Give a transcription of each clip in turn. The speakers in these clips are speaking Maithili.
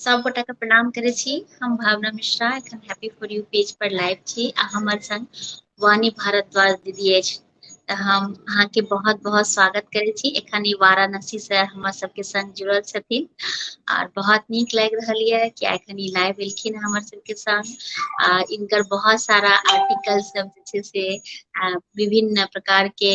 सब गोटा के प्रणाम करे छी हम भावना मिश्रा एखन हैप्पी फॉर यू पेज पर लाइव छी आ हमर संग वाणी भारद्वाज दीदी अछि तऽ हम अहाँके बहुत बहुत स्वागत करे छी एखन ई वाराणसी से हमर सब के संग जुड़ल छथिन आर बहुत नीक लागि रहल ये कि एखन ई लाइव एलखिन हमर सबके संग आ इनकर बहुत सारा आर्टिकल सब जे छै से विभिन्न प्रकार के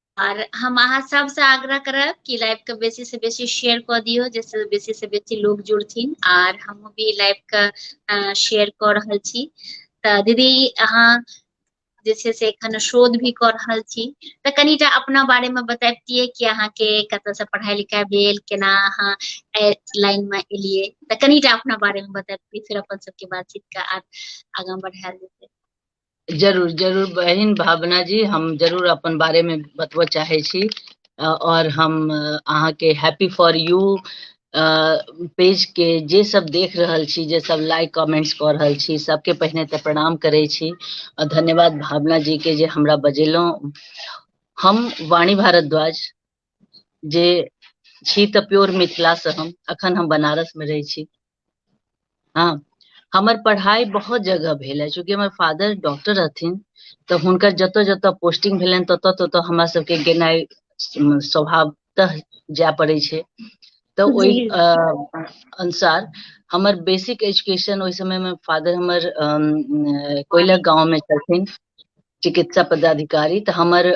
आर हम अहाँ सबसँ आग्रह करब कि लाइव के बेसी से बेसी शेयर कऽ दियौ जाहिसँ बेसी से बेसी लोग जुड़थिन आर हम भी लाइव के शेयर कऽ रहल छी तऽ दीदी अहाँ जे छै से एखन शोध भी कऽ रहल छी तऽ कनिटा अपना बारेमे बताबितियै कि अहाँके कतऽसँ पढ़ाइ लिखाइ भेल केना अहाँ लाइनमे एलियै तऽ कनिटा अपना बारेमे बताबितियै फेर अपन सबके बातचीतके आर आगाँ बढ़ायल जेतै जरूर जरूर बहिन भावना जी हम जरूर अपन बारे में बतबऽ चाहे छी अ, और हम अ, अहाँ के हैप्पी फॉर यू पेज के जे सब देख रहल छी जे सब लाइक कमेंट्स कऽ रहल छी सबके पहिने तऽ प्रणाम करै छी और धन्यवाद भावना जी के जे हमरा बजेलहुँ हम वाणी भारद्वाज जे छी तऽ प्योर मिथिलासँ हम अखन हम बनारसमे रहै छी हँ हमर पढ़ाइ बहुत जगह भेल है चूँकि हमर फादर डॉक्टर रहथिन तऽ हुनकर जतऽ जतऽ पोस्टिंग भेलनि ततऽ ततऽ हमरा सबके गेनाइ स- स्वभावतः जाय पड़ै छै तऽ ओहि जी अ, अनुसार हमर बेसिक एजुकेशन ओहि समय मे फादर हमर अम, अ, कोइलक गांव में छलखिन चिकित्सा पदाधिकारी तऽ हमर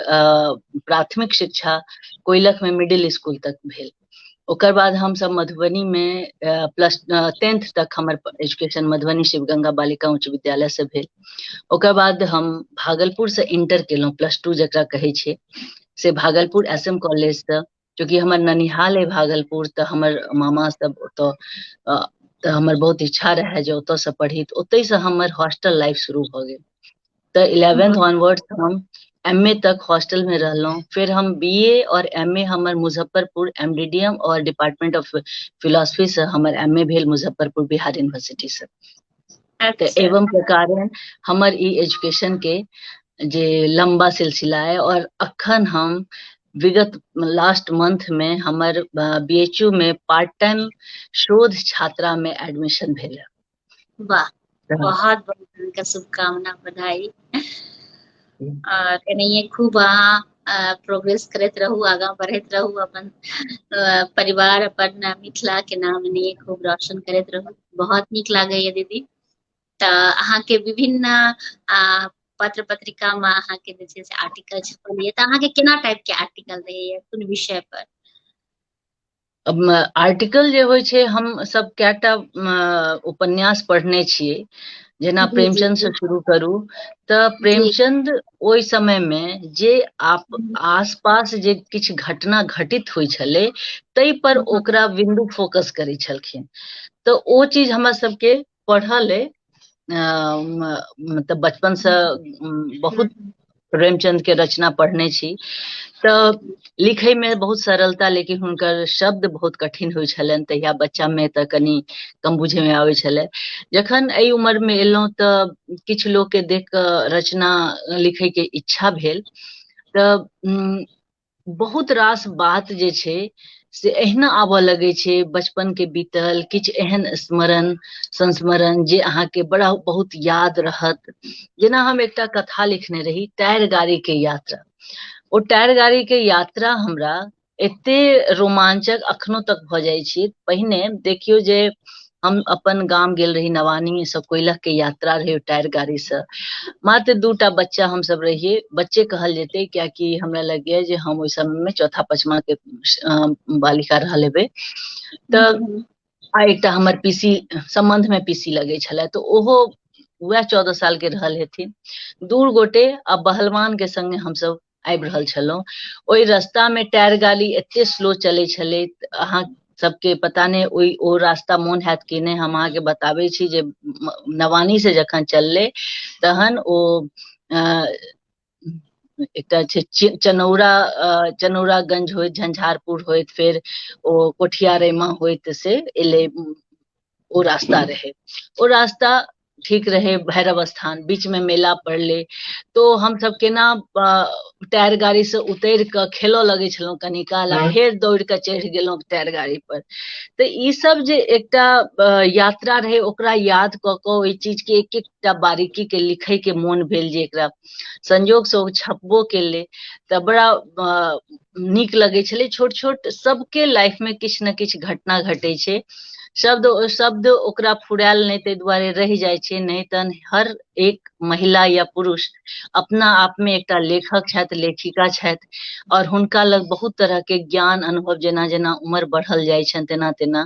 प्राथमिक शिक्षा कोइलखमे मिडिल स्कूल तक भेल ओकर बाद हमसभ मधुबनीमे प्लस टेंथ तक हमर एजुकेशन मधुबनी शिव गंगा बालिका उच्च विद्यालयसँ भेल ओकर बाद हम भागलपुरसँ इंटर केलहुँ प्लस टू जकरा कहै छै से भागलपुर एस एम कॉलेजसँ चूँकि हमर ननिहाल अइ भागलपुर तऽ हमर मामा सब ओतऽ अ, तऽ हमर बहुत इच्छा रहए जे ओतऽसँ पढ़ी तऽ ओतहिसँ हमर हॉस्टल लाइफ शुरू भऽ गेल तऽ इलेवेंथ वाह ऑनवर्ड्स हम एम ए तक हॉस्टल में रहलहुँ फिर हम बी ए और एम ए हमर Muzaffarpur M D D M और डिपार्टमेंट ऑफ फिलोसफी से हमर एम ए भेल मुजफ्फरपुर बिहार यूनिवर्सिटी से तऽ अच्छा एवं प्रकारे हमर ई एजुकेशन के जे लम्बा सिलसिला अय और अखन हम विगत लास्ट मंथ मे हमर बी एच यू मे पार्ट टाइम शोध छात्रा मे एडमिशन भेल ह वाह बहुत बहुत अके शुभकामना बधाई एनाहिए खूब अहाँ प्रोग्रेस करैत रहू आगाँ बढ़ैत रहू अपन परिवार अपन मिथिलाके नाम एनाहिए खूब रोशन करैत रहू बहुत नीक लागैए दीदी तऽ अहाँके विभिन्न पत्र पत्रिका में अहाँ के जे छै से आर्टिकल छपल ये तऽ अहाँ के केना टाइप के आर्टिकल रहैए कोन विषय पर आर्टिकल जे होइ छै हम सब कएटा उपन्यास पढ़ने छियै जेना प्रेमचंद से शुरू करू तऽ प्रेमचंद ओहि समय मे जे आप आसपास जे किछु घटना घटित होइ छलै ताहि पर ओकरा विन्दु फोकस करै छलखिन तऽ ओ चीज हमरा सबके पढ़ल अइ मतलब बचपनसँ बहुत प्रेमचंदके रचना पढ़ने छी तऽ लिखैमे बहुत सरलता लेकिन हुनकर शब्द बहुत कठिन होइत छलनि तहिया बच्चामे तऽ कनि कम बुझैमे आबैत छलै जखन एहि उमरमे एलहुँ तऽ किछु लोकके देख कऽ रचना लिखैके इच्छा भेल तऽ बहुत रास बात जे छै से एहिना आबऽ लगै छै बचपन के बीतल किछु एहन स्मरण संस्मरण जे अहाँके बड़ा बहुत याद रहत जेना हम एकटा कथा लिखने रही टायर गाड़ी के यात्रा ओ टायर गाड़ी के यात्रा हमरा एते रोमांचक अखनो तक भऽ जाइ छी पहिने देखियौ जे हम अपन गाम गेल रही नवानी से कोयलख के यात्रा रहे टायर गाड़ी से मात्र दूटा बच्चा हम सब रहिए बच्चे कहल जेते कियाकि हमरा लगे जे हम ओहि समय में चौथा पचमा के बालिका रहल हेबे तऽ हम्म। आ एकटा हमर पीसी संबंध में पीसी लगे छले तो ओहो वह चौदह साल के रहल हेथिन दूर गोटे आ बहलवान के संगे हम सब आबि रहल छलहुँ ओहि रस्तामे टायर गाड़ी एते स्लो चलै छलै अहाँ सबके पता नहि ओहि ओ रास्ता मोन हैत कि नहि हम अहाँके बताबै छी जे नवानी से जखन चललै तहन ओ एकटा छै चनौरा चनौरागंज होइत झंझारपुर होइत फेर ओ कोठिया रेमा होइत से एलै ओ रास्ता रहे ओ रास्ता ठीक रहे भैरव स्थान बीच में मेला पड़ले तो हम सब केना टायर गाड़ी से उतर के खेलो लगे छलहुँ कनी काल आ फेर दौड़ के चढ़ गेलहुँ टायर गाड़ी पर तो ई सब जे एकटा यात्रा रहे ओकरा याद क के ओहि चीज के एक एकटा बारीकी के लिखे के मोन भेल जे एकरा संयोग से ओ छपबो केले तऽ बड़ा नीक लगै छलै छोट छोट सबके लाइफ में किछु ने किछु घटना घटै छै शब्द शब्द ओकरा फुरायल नहि ताहि दुआरे रहि जाइ छै नहि तहन हर एक महिला या पुरुष अपना आप में एकटा लेखक छथि लेखिका छथि और हुनका लग बहुत तरह के ज्ञान अनुभव जेना जेना उम्र बढ़ल जाइ छनि तेना तेना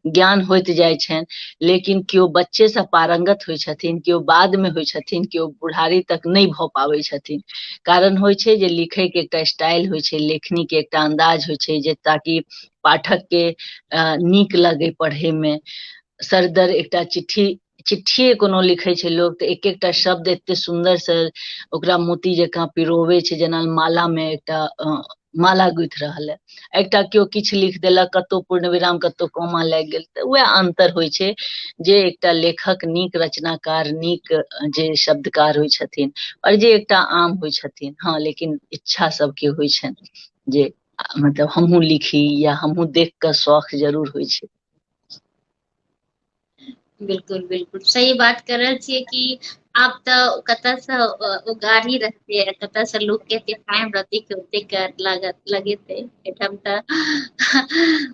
ज्ञान होइत जाइ छनि लेकिन केओ बच्चेसँ पारंगत होइ छथिन केओ बादमे होइ छथिन केओ बुढ़ारी तक नहि भऽ पाबै छथिन कारण होइ छै जे लिखैके एकटा स्टाइल होइ छै लेखनीके एकटा अन्दाज होइ छै जे ताकि पाठकके नीक लगै पढ़ैमे सरदर एकटा चिट्ठी चिट्ठिए कोनो लिखै छै लोक तऽ एक एकटा शब्द एते सुन्दरसँ ओकरा मोती जकाँ पिरोबै छै जेना मालामे एकटा माला गुथि रहल है एकटा केओ किछु लिख देलक कतहु पूर्ण विराम कतहु कोमा लागि गेल तऽ उएह अन्तर होइ छै जे एकटा लेखक नीक रचनाकार नीक जे शब्दकार होइ छथिन आओर जे एकटा आम होइ छथिन हँ लेकिन इच्छा सबके होइ छनि जे मतलब हमहूँ लिखी या हमहूँ देख कऽ शौख जरूर होइ छै बिलकुल बिलकुल सही बात कर रहल छियै कि आब तऽ कतयसँ ओ गाड़ी रहतै कतयसँ लोक के एते टाइम रहतै कि ओतेक लागत लगेतै एहिठाम तऽ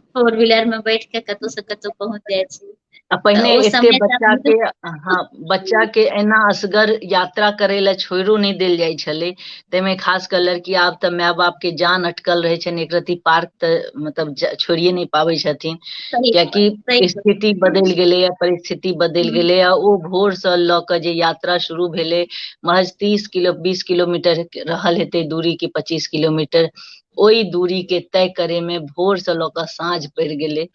फोर व्हीलर मे बैठ के कतहु से कतहु पहुँच जाइ छी आ तऽ पहिने ओ एते समय बच्चा तऽ के हँ बच्चा के एना असगर यात्रा करै लए छोड़ो नहि देल जाइ छलै ताहिमे खास कऽ लड़की आब तऽ माय बाप के जान अटकल रहै छनि एक रति पार्क तऽ मतलब छोड़िए नहि पाबै छथिन कियाकि स्थिति बदलि गेलैए परिस्थिति बदलि गेलैए ओ भोरसँ लऽ कऽ जे यात्रा शुरू भेलै महज तीस किलो बीस किलोमीटर रहल हेतै दूरी कि पच्चीस किलोमीटर ओहि दूरी के तय करे में भोर से लऽ कऽ साँझ पड़ि गेलै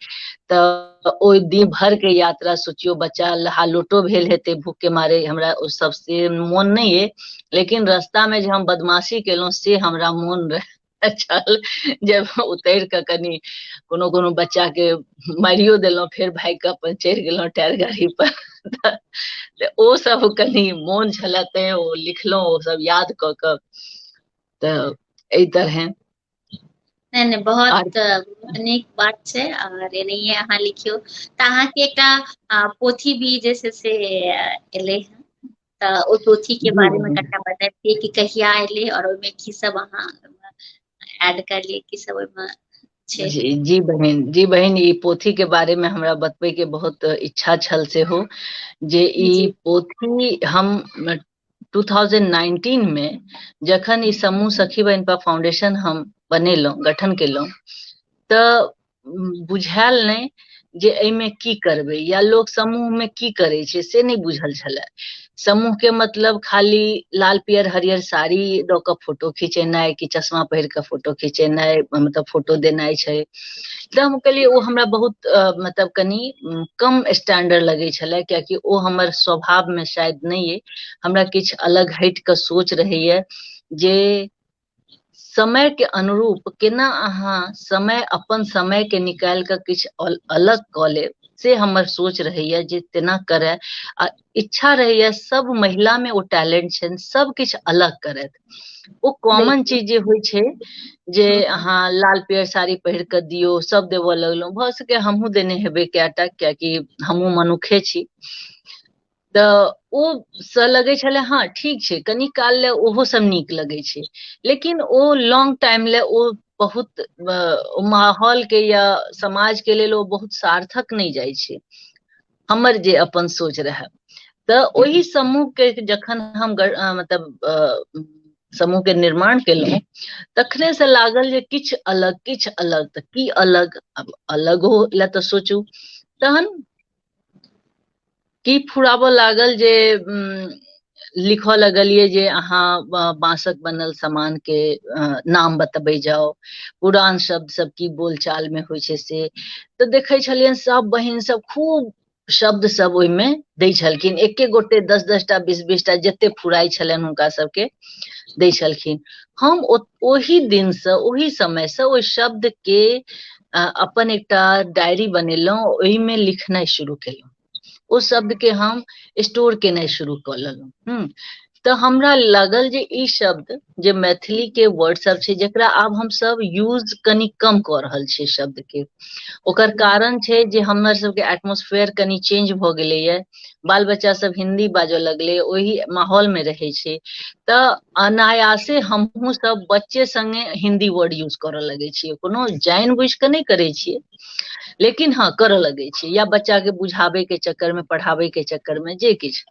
तऽ ओहि दिन भर के यात्रा सोचियो बच्चा हालोटो भेल हेतै भूख के मारे हमरा ओ सब से मोन नहीं है लेकिन रास्ता में जे हम बदमाशी केलहुँ से हमरा मोन रहे छल जे उतरि कऽ कनि कोनो कोनो बच्चा के मारियो देलहुँ फेर भागि कऽ अपन चढ़ि गेलहुँ टायर गाड़ी पर तऽ ओ सब कनि मोन छलए तैं ओ लिखलहुँ ओ सब याद कऽ कऽ तऽ एहि तरहे नहि नहि बहुत नीक बात छै आओर एनाहिए अहाँ लिखियौ तऽ अहाँके एकटा पोथी भी जे छै से एलै हँ तऽ ओ पोथी के बारे मे कनिटा बताबितियै कि कहिया एलै आओर ओहिमे की सब अहाँ एड करलियै की सब ओहिमे छै जी जी बहिन जी बहिन ई पोथी के बारे मे हमरा बतबे के बहुत इच्छा छल सेहो जे ई जी पोथी हम 2019 मे जखन ई समूह सखी बहिन पर फाउंडेशन हम बनेलहुँ गठन केलहुँ तऽ बुझायल नहि जे एहिमे की करबै या लोक समूहमे की करै छै से नहि बुझल छलए समूहके मतलब खाली लाल पियर हरियर साड़ी दऽ कऽ फोटो खिचेनाइ कि चश्मा पहिर कऽ फोटो खिचेनाइ मतलब फोटो देनाइ छै तऽ हम कहलियै ओ हमरा बहुत मतलब कनि कम स्टैंडर्ड लगै छलै कियाकि ओ हमर स्वभावमे शायद नहि अइ हमरा किछु अलग हटि कऽ सोच रहैए जे समयके अनुरूप केना अहाँ समय अपन समयके निकालि कऽ किछु अलग कऽ लेब से हमर सोच रहैए जे तेना करय आ इच्छा रहैए सभ महिलामे ओ टैलेंट छनि सभ किछु अलग करथि ओ कॉमन चीज जे होइ छै जे अहाँ लाल पियर साड़ी पहिर कऽ दियौ सभ देबऽ लगलहुँ भऽ सके हमहूँ देने हेबै कएटा कियाकि हमहूँ मनुखे छी तऽ ओ से लगै छलै हँ ठीक छै कनि काल लए ओहो सब नीक लगै छै लेकिन ओ लॉन्ग टाइम लए ओ बहुत माहौल के या समाज के लेल ओ बहुत सार्थक नहि जाइ छै हमर जे अपन सोच रहए तऽ ओहि समूह के जखन हम गर- अ, मतलब अ, समूह के निर्माण केलहुँ तखने से लागल जे किछु अलग किछु अलग तऽ की अलग अब अलग हो लए तऽ सोचू तहन की फुराबऽ लागल जे उम, लिखऽ लगलिए जे अहाँ बाँसक बनल सामान के नाम बतबै जाओ पुरान शब्द सब की बोलचाल में होइ छै से तऽ देखै छलियनि सब बहिन सब खूब शब्द सब ओहिमे दै छलखिन एके गोटे दस दस टा बीस बीस टा जते फुराइ छलनि हुनका सबके दै छलखिन हम ओहि दिनसँ ओहि समयसँ ओहि शब्दके अपन एकटा डायरी बनेलहुँ ओहिमे लिखनाइ शुरू केलहुँ ओ शब्दके हम स्टोर केनाइ शुरू कऽ लेलहुँ हम्म, तऽ हमरा लागल जे ई शब्द जे मैथिली के वर्ड सब छै जकरा आब हम सब यूज कनी कम कऽ रहल छियै शब्द के ओकर कारण छै जे हमर सबके एटमोस्फेयर कनी चेंज भऽ गेलैए बाल बच्चा सब हिंदी बाजऽ लगलै ओहि माहौल मे रहै छै तऽ अनायासे हमहूँ सब बच्चे संगे हिंदी वर्ड यूज करऽ लगै छियै कोनो जानि बुझि कऽ नहि करै छियै लेकिन हँ करऽ लगै छै या बच्चा के बुझाबै के चक्कर मे पढ़ाबै के चक्कर मे जे किछु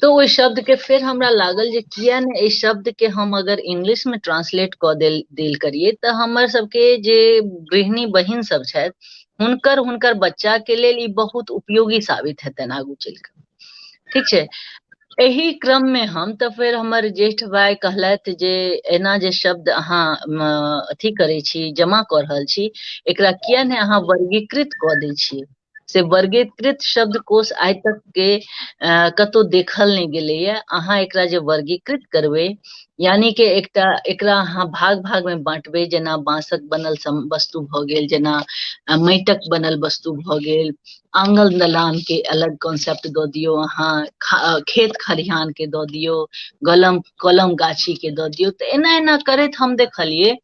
तऽ ओहि शब्द के फेर हमरा लागल जे किया ने एहि शब्द के हम अगर इंग्लिश मे ट्रांसलेट कऽ देल देल करियै तऽ हमर सबके जे गृहिणी बहिन सब छथि हुनकर हुनकर बच्चा के लेल ई बहुत उपयोगी साबित हेतनि आगू चलि कऽ ठीक छै एहि क्रम मे हम तऽ फेर हमर ज्येष्ठ भाय कहलथि जे एना जे शब्द अहाँ म, अथी करै छी जमा कऽ रहल छी एकरा किया ने अहाँ वर्गीकृत कऽ दै छियै से वर्गीकृत शब्दकोश आइ तक के अ, कतहु देखल नहि गेलैए अहाँ एकरा जे वर्गीकृत करबै यानी कि एकटा एकरा अहाँ भाग भाग मे बाँटबै जेना बाँसक बनल सम- वस्तु भऽ गेल जेना अ, माटिक बनल वस्तु भऽ गेल आंगल दलान के अलग कॉन्सेप्ट दऽ दियौ अहाँ खा, अ, खेत खलिहान के दऽ दियौ गलम कलम गाछी के दऽ दियौ तऽ एना एना करैत हम देखलियै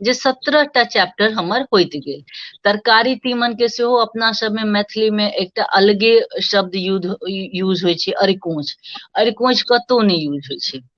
जे सत्रह टा चैप्टर हमर होइत गेल तरकारी तीमन के सेहो अपना सबमे मैथिली मे एकटा अलगे शब्द युद्ध यूज होइ छै अरिकोंच अरिकोंच कतौ नहि यूज होइ छै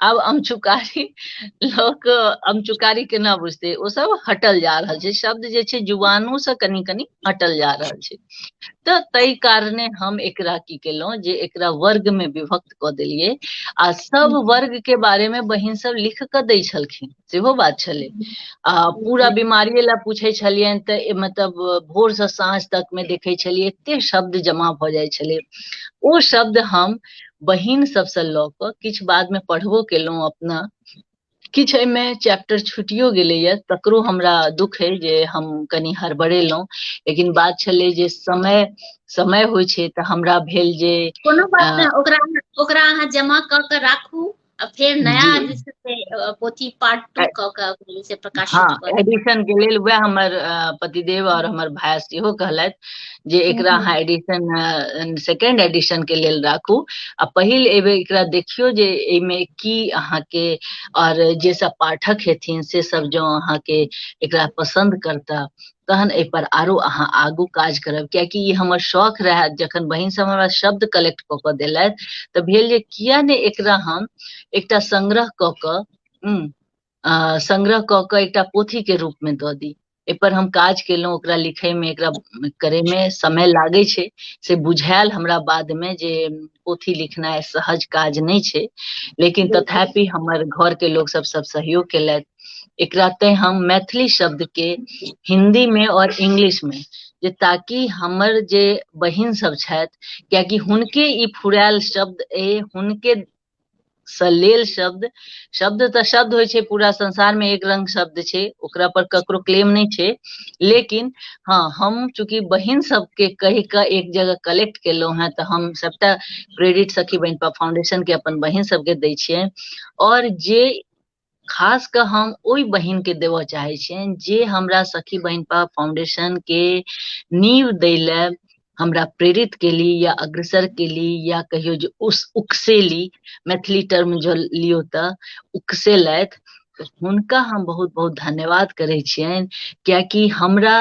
आब अमचुकारी लोक अमचुकारी केना बुझते ओ सब हटल जा रहल छै शब्द जे छै जुबानो से कनि कनि हटल जा रहल छै तऽ ताहि कारणे हम एकरा की केलहुँ जे एकरा वर्ग में विभक्त कऽ देलियै आ सब वर्ग के बारे में बहिन सब लिख कऽ दै छलखिन सेहो बात छलै आ पूरा बीमारिये लए पूछै छलियनि तऽ ए- मतलब भोर से साँझ तक में देखै छलियै एते शब्द जमा भऽ जाइ छलै ओ शब्द हम बहिन सबसँ लऽ कऽ किछु बाद में पढ़बो केलहुँ अपना किछु एहिमे चैप्टर छुटियो गेलैए तकरो हमरा दुख अइ जे हम कनि हड़बड़ेलहुँ लेकिन बात छलै जे समय समय होइ छै तऽ हमरा भेल जे कोनो बात अ, नहि ओकरा ओकरा अहाँ जमा कऽ के राखू आ फेर नया जी जे छै से अ, पोथी पार्ट टू कऽ कऽ अभी से प्रकाशित हँ भऽ एडिशन के लेल वएह हमर अ, पतिदेव और हमर भाय सेहो कहलथि जे एकरा हम्म, अहाँ एडिशन सेकेंड एडिशन के लेल राखू आ पहिल एबे एकरा देखियो जे एहिमे की अहाँके और जे सब पाठक हेथिन से सब जो अहाँके एकरा पसंद करता तहन एहि पर आरो अहाँ आगू काज करब कियाकि ई हमर शौक रहए जखन बहिन सब हमरा शब्द कलेक्ट कऽ कऽ देलथि तऽ भेल जे किया ने एकरा हम एकटा संग्रह कऽ कऽ संग्रह कऽ कऽ एकटा पोथी के रूप में दऽ दी एहिपर हम काज केलहुँ ओकरा लिखैमे एकरा करैमे समय लागै छै से बुझायल हमरा बादमे जे पोथी लिखनाइ सहज काज नहि छै लेकिन तथापि हमर घरके लोकसभ सभ सहयोग केलथि एकरा ते हम मैथिली शब्द के हिंदी में और इंग्लिश में जे ताकि हमर जे बहिन सब छथि कियाकि हुनके ई फुरायल शब्द ए हुनके से लेल शब्द शब्द तऽ शब्द होइ छै पूरा संसार में एक रंग शब्द छै ओकरा पर ककरो क्लेम नहि छै लेकिन हँ हम चूंकि बहिन सबके कहि कऽ एक जगह कलेक्ट केलहुँ हेँ तऽ हम सबटा क्रेडिट सखी बहिन फाउंडेशन के अपन बहिन सबके दै छियनि और जे खास कऽ हम ओहि बहिनके देबऽ चाहै छियनि जे हमरा सखी बहिन पर फाउंडेशनके नींव दै लए हमरा प्रेरित केली या अग्रसर केली या कहियो जे उस उकसेली मैथिली टर्म जो लियौ तऽ उकसेलथि हुनका हम बहुत बहुत धन्यवाद करै छियनि कियाकि हमरा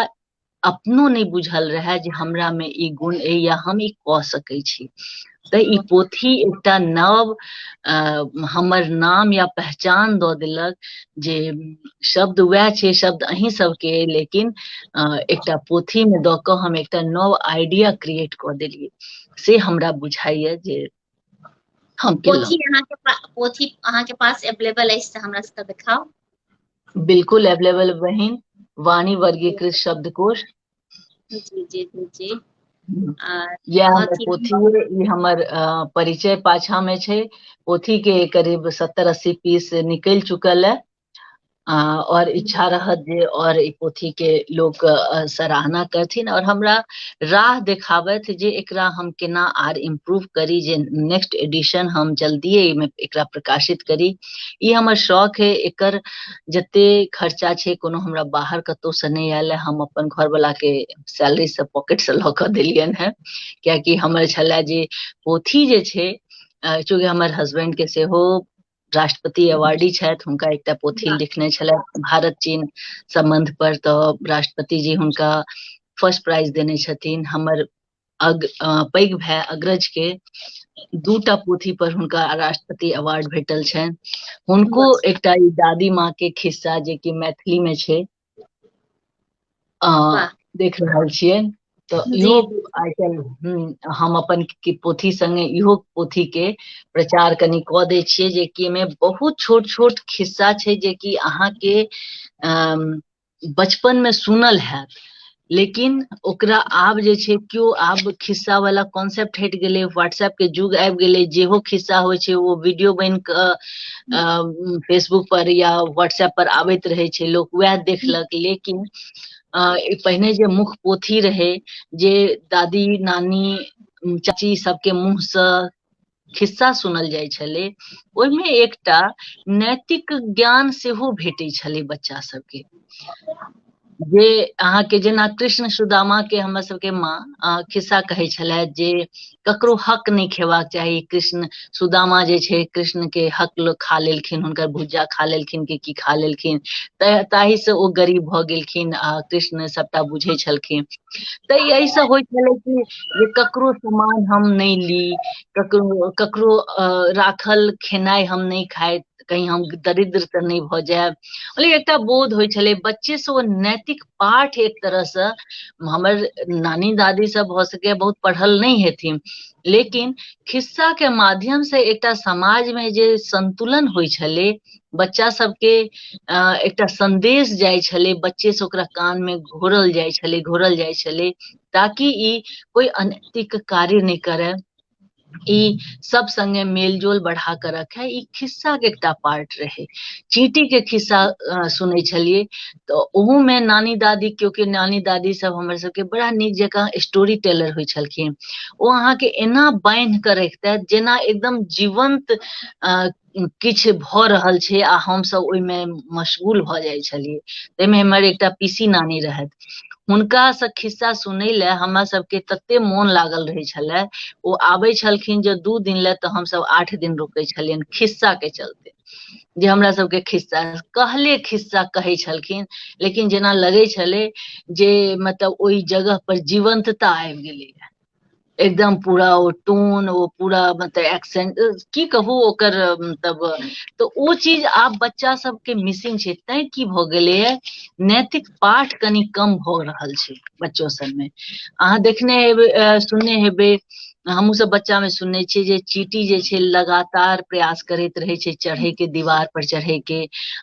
अपनो नहि बुझल रहए जे हमरामे ई गुण अइ या हम ई कऽ सकैत छी तऽ ई पोथी एकटा नव हमर नाम या पहचान दऽ देलक जे शब्द वएह छै शब्द अहीं सबके लेकिन एकटा पोथीमे दऽ कऽ हम एकटा नव आइडिया क्रिएट कऽ देलियै से हमरा बुझाइए जे हम पोथी अहाँके पोथी अहाँके पास अवेलेबल अछि तऽ हमरा सबके देखाउ बिल्कुल अवेलेबल बहिन वाणी वर्गीकृत शब्दकोश जी जी जी जी या पोथी हमर परिचय पाछा में छै पोथी के करीब सत्तर अस्सी पीस निकल चुकल है और इच्छा रहत जे और ई पोथी के लोग सराहना करथिन और हमरा राह देखाबत जे एकरा हम केना आर इम्प्रूव करी जे नेक्स्ट एडिशन हम जल्दिए एहिमे एकरा प्रकाशित करी ई हमर शौक है एकर जते खर्चा छै कोनो हमरा बाहर कतौ से नहि आयल है हम अपन घर वाला के सैलरी से पॉकेट से लऽ कऽ देलियन है कियाकि हमर छलै जे पोथी जे छै चूँकि हमर हस्बैंड के सेहो राष्ट्रपति अवार्डी छथि हुनका एकटा पोथी लिखने छलथि भारत चीन सम्बन्ध पर तऽ राष्ट्रपति जी हुनका फर्स्ट प्राइज देने छथिन हमर अग पैघ भाय अग्रज के दूटा पोथी पर हुनका राष्ट्रपति अवार्ड भेटल छनि हुनको एकटा ई दादी माँ के खिस्सा जे कि मैथिली में छै अ, देख रहल छियै तऽ जी इहो जी आइ काल्हि हम्म, हम अपन के पोथी संगे इहो पोथी के प्रचार कनि कऽ दै छियै जे कि एहिमे बहुत छोट छोट खिस्सा छै जे कि अहाँके अम, बचपन में सुनल हैत लेकिन ओकरा आब जे छै केओ आब खिस्सा वाला कॉन्सेप्ट हटि गेलै व्हाट्सएप के युग आबि गेलै जेहो खिस्सा होइ छै ओ वीडियो बनि कऽ फेसबुक पर या व्हाट्सएप पर आबैत रहै छै लोक वएह देखलक लेकिन पहिने जे मुख पोथी रहै जे दादी नानी चाची सबके मुँहसँ खिस्सा सुनल जाइ छलै ओहिमे एकटा नैतिक ज्ञान सेहो भेटै छलै बच्चा सबके जे अहाँके जेना कृष्ण सुदामा के हमर सबके माँ खिस्सा कहै छलए जे ककरो हक नहि खेबाक चाही कृष्ण सुदामा जे छै कृष्ण के हक लोक खा लेलखिन हुनकर भुज्जा खा लेलखिन कि की खा लेलखिन ताहि से ओ गरीब भऽ गेलखिन आ कृष्ण सबटा बुझै छलखिन तऽ यही सब होइ छलै कि जे ककरो सामान हम नहि ली ककरो ककरो राखल खेनाइ हम नहि खाइत कहीं हम दरिद्र तऽ नहि भऽ जायब मतलब एकटा बोध होइ छलै बच्चे से ओ नैतिक पाठ एक तरह से हमर नानी दादी सब भऽ सके बहुत पढ़ल नहि हेथिन लेकिन खिस्सा के माध्यम से एकटा समाज में जे संतुलन होइ छलै बच्चा सबके अ, एकटा संदेश जाइ छलै बच्चे से ओकरा कान में घोरल जाइ छलै घोरल जाइ छलै ताकि ई कोई अनैतिक कार्य नहि करे ई सब संगे मेलजोल बढ़ा के रखे ई खिस्सा के एकटा पार्ट रहे चींटी के खिस्सा अ, सुनै छलियै तऽ ओहू में नानी दादी केओ के नानी दादी सब हमर सबके बड़ा नीक जकाँ स्टोरी टेलर होइ छलखिन ओ अहाँके एना बान्हि के रखिते जेना एकदम जीवंत अ, किछु भऽ रहल छै आ हमसभ ओहिमे मशगूल भऽ जाइ छलियै ताहिमे हमर एकटा पीसी नानी रहथि हुनकासँ खिस्सा सुनै लए हमरा सभके तते मोन लागल रहै छलै ओ आबै छलखिन जे दू दिन लए तऽ हमसभ आठ दिन रुकै छलियनि खिस्साके चलते जे हमरा सभके खिस्सा कहले खिस्सा कहै छलखिन लेकिन जेना लगै छलै जे मतलब ओहि जगह पर जीवंतता आबि गेलैए एकदम पूरा ओ टोन ओ पूरा मतलब एक्सेंट की कहू ओकर मतलब तऽ ओ चीज आब बच्चा सबके मिसिंग छै तैं की भऽ गेलैए नैतिक पाठ कनि कम भऽ रहल छै बच्चो सबमे अहाँ देखने हेबै सुनने हेबै हमहूँ सब बच्चा में सुनने छियै जे चीटी जे छै लगातार प्रयास करैत रहै छै चढ़े के दीवार पर चढ़े के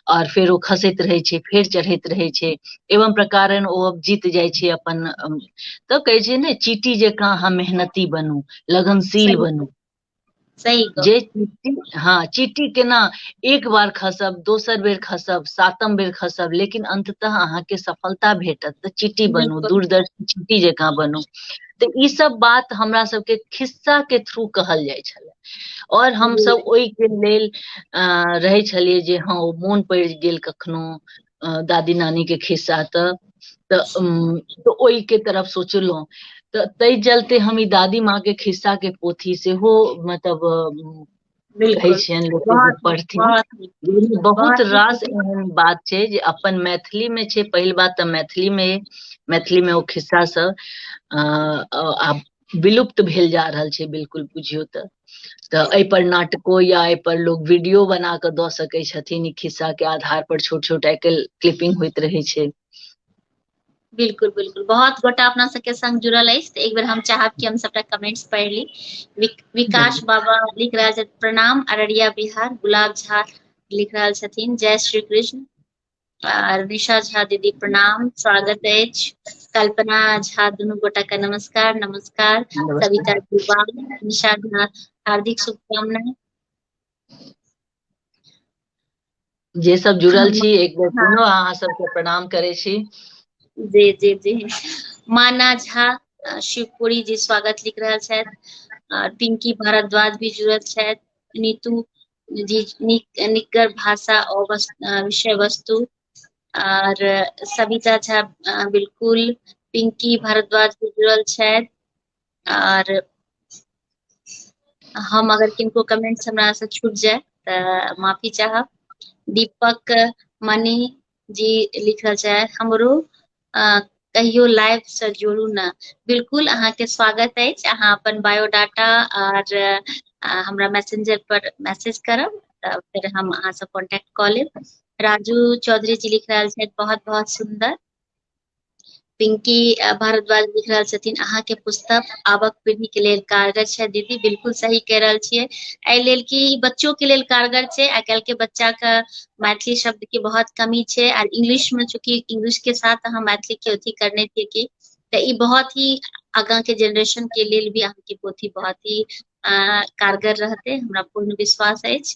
और फेर ओ खसैत रहै छै फेर चढ़ैत रहै छै एवं प्रकारन ओ जीत जाइ छै अपन तऽ कहै छै ने चीटी जकाँ अहाँ मेहनती बनू लगनशील सही बनू सही गप जे चीटी हँ चीटी केना एक बार खसब दोसर बेर खसब सातम बेर खसब लेकिन अन्ततः अहाँके सफलता भेटत तऽ चीटी बनू बिल्कुल दूरदर्शी चीटी जकाँ बनू तऽ ई सब बात हमरा सबके खिस्सा के थ्रू कहल जाइ छलै और हम सब ओहि के लेल रहै छलियै जे हँ ओ मोन पड़ि गेल कखनो दादी नानी के खिस्सा तऽ तऽ ओहि के तरफ सोचलहुँ तऽ ताहि चलते हम ई दादी माँ के खिस्सा के पोथी सेहो मतलब कहै छियनि लोक पढ़थिन बहुत रास एहन बात छै जे अपन मैथिली मे छै पहिल बात तऽ मैथिली मे मैथिली मे ओ खिस्सा सब आ विलुप्त भेल जा रहल छै बिल्कुल बुझियौ तऽ तऽ एहिपर नाटको या एहिपर लोक वीडियो बना कऽ दऽ सकैत छथिन ई खिस्साके आधार पर छोट छोट आइ काल्हि क्लिपिंग होइत रहै छै बिल्कुल बिल्कुल बहुत गोटा अपना सबके संग जुड़ल अछि तऽ एक बेर हम चाहब कि हम सबटा कमेंट्स पढ़ि ली विक, विकास बाबा लिख रहल छथि प्रणाम अररिया बिहार गुलाब झा लिख रहल छथिन जय श्री कृष्ण आर निशा झा दीदी प्रणाम स्वागत अछि कल्पना झा दुनू गोटा के नमस्कार नमस्कार सविता दुबा निशा झा हार्दिक शुभकामना जे सब जुड़ल छी एक बेर हाँ। पुनः अहाँ सबके प्रणाम करै छी जी जी जी माना झा शिवपुरी जी स्वागत लिख रहल छथि पिंकी भारद्वाज भी जुड़ल छथि नीतू जी नीक निकर भाषा आ विषय वस्तु आर सविता झा बिलकुल पिंकी भारद्वाज भी जुड़ल छथि आर हम अगर किनको कमेंट्स हमरा से छूट जाय तऽ माफी चाहब दीपक मणि जी लिखल छै हमरो अ कहियो लाइफ से जोड़ू ने बिलकुल अहाँके स्वागत अछि अहाँ अपन बायोडाटा आर हमरा मैसेंजर पर मैसेज करब तऽ फेर हम अहाँसँ कॉन्टेक्ट कऽ लेब राजू चौधरी जी लिख रहल छथि बहुत बहुत सुन्दर पिंकी भारद्वाज लिख रहल छथिन अहाँ के पुस्तक आबक पीढ़ी के लेल कारगर छै दीदी बिल्कुल सही कह रहल छियै एहि लेल कि बच्चो के लेल कारगर छै आइ काल्हि के बच्चा के मैथिली शब्द के बहुत कमी छै आर इंग्लिश में चूंकि इंग्लिश के साथ अहाँ मैथिली के अथी करने छियै कि तऽ ई बहुत ही आगा के जनरेशन के लेल भी अहाँ के पोथी बहुत ही कारगर रहते हमरा पूर्ण विश्वास अछि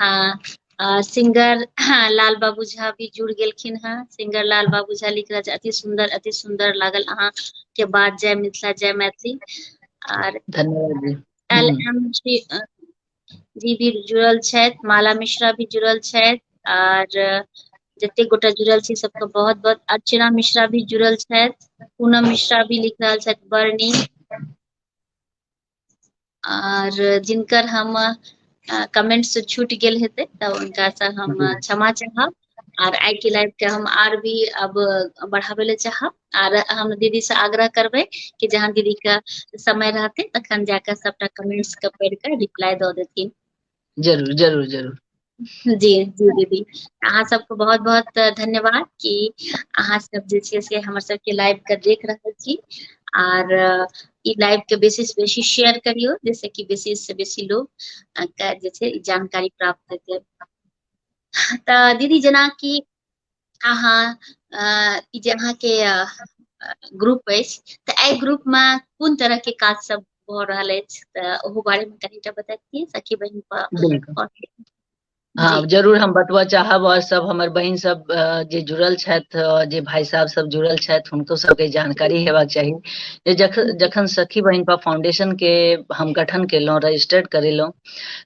हँ आ सिंगर लाल बाबू झा भी जुड़ गेलखिन हेँ सिंगर लाल बाबू झा लिख रहल छै अति सुन्दर अति सुन्दर लागल अहाँ के बात जय मिथिला जय मैथिली आर धन्यवाद जी एल हूँ एम सी जी भी जुड़ल छथि माला मिश्रा भी जुड़ल छथि आर जते गोटा जुड़ल छी सबके बहुत बहुत अर्चना मिश्रा भी जुड़ल छथि पूनम मिश्रा भी लिख रहल छथि बड़ नीक आर जिनकर हम कमेंट से छूट गेल हेतै तऽ हुनका से हम जी क्षमा चाहब आर आइ के लाइफ के हम आर भी अब बढ़ाबै ले चाहब आर हम दीदी से आग्रह करबै कि जहाँ दीदी के समय रहतै तखन जाक सबटा कमेंट्स के पढ़ के रिप्लाई दऽ देथिन जरूर जरूर जरूर जी जी दीदी अहाँ सबके बहुत बहुत धन्यवाद कि अहाँ सब जे छै से हमर सबके लाइव के देख रहल छी आर ई लाइव के बेसी से बेसी शेयर करियो जैसे कि बेसी से बेसी लोग के जे छै जानकारी प्राप्त हेतै तऽ दीदी जेनाकि अहाँ ई जे अहाँके ग्रुप अछि तऽ एहि ग्रुपमे कोन तरहके काज सब भऽ रहल अछि तऽ ओहो बारेमे कनिटा बतैतियै सखी बहिन हाँ जरूर हम बतबऽ चाहब आओर सब हमर बहिन सब जे जुड़ल छथि जे भाई साहब सब जुड़ल छथि हुनको सबके जानकारी हेबाक चाही जे जखन जखन सखी बहिन पर फाउंडेशन के हम गठन केलहुँ रजिस्टर्ड करेलहुँ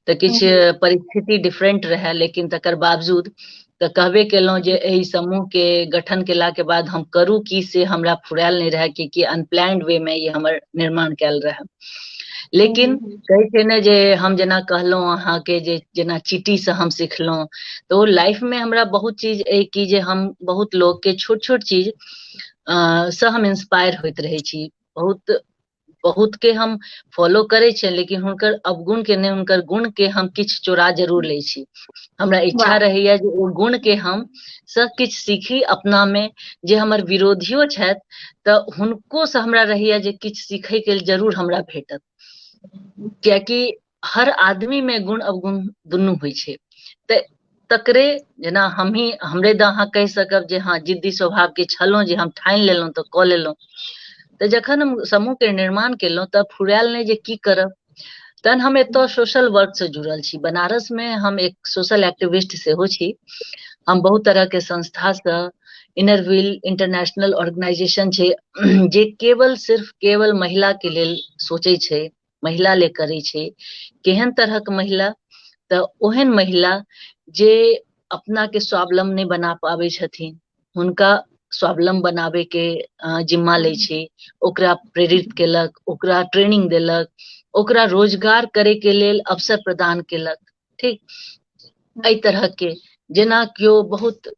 तऽ किछु परिस्थिति डिफरेंट रहए लेकिन तकर बावजूद तऽ कहबे केलहुँ जे एहि समूह के गठन केला के बाद हम करू की से हमरा फुरायल नहि रहए कि कि अनप्लान्ड वे मे ई हमर निर्माण कयल रहए लेकिन कहै छै ने जे हम जेना कहलहुँ अहाँके जे जेना चीटीसँ हम सिखलहुँ तऽ ओ लाइफमे हमरा बहुत चीज अइ कि जे हम बहुत लोकके छोट छोट चीज अ, सँ हम इंस्पायर होइत रहै छी बहुत बहुत के हम फॉलो करे छियनि लेकिन हुनकर अवगुण के नहि हुनकर गुण के हम किछु चोरा जरूर लै छी हमरा इच्छा रहैया जे ओ गुण के हम सब किछु सीखी अपना मे जे हमर विरोधियो छथि तऽ हुनको से हमरा रहैया जे किछु सीखय के जरूर हमरा भेटत कियाकि हर आदमी मे गुण अवगुण दुनू होइ छै तऽ तकरे जेना हमही हमरे दऽ अहाँ कहि सकब जे हँ जिद्दी स्वभावके छलहुँ जे हम ठानि लेलहुँ तऽ कऽ लेलहुँ तऽ जखन हम समूहके निर्माण केलहुँ तऽ फुरायल नहि जे की करब तहन हम एतय सोशल वर्कसँ जुड़ल छी बनारसमे हम एक सोशल एक्टिविस्ट सेहो छी हम बहुत तरहके संस्थासँ इनरविल इंटरनेशनल ऑर्गेनाइजेशन छै जे केवल सिर्फ केवल महिलाके लेल सोचै छै महिला ले करै छै केहन तरहक महिला तऽ ओहन महिला जे अपना के स्वावलम्ब नहि बना पाबै छथिन हुनका स्वावलम्ब बनाबे के जिम्मा लै छै ओकरा प्रेरित केलक ओकरा ट्रेनिंग देलक ओकरा रोजगार करे के लेल अवसर प्रदान केलक ठीक एहि तरह के जेना केओ बहुत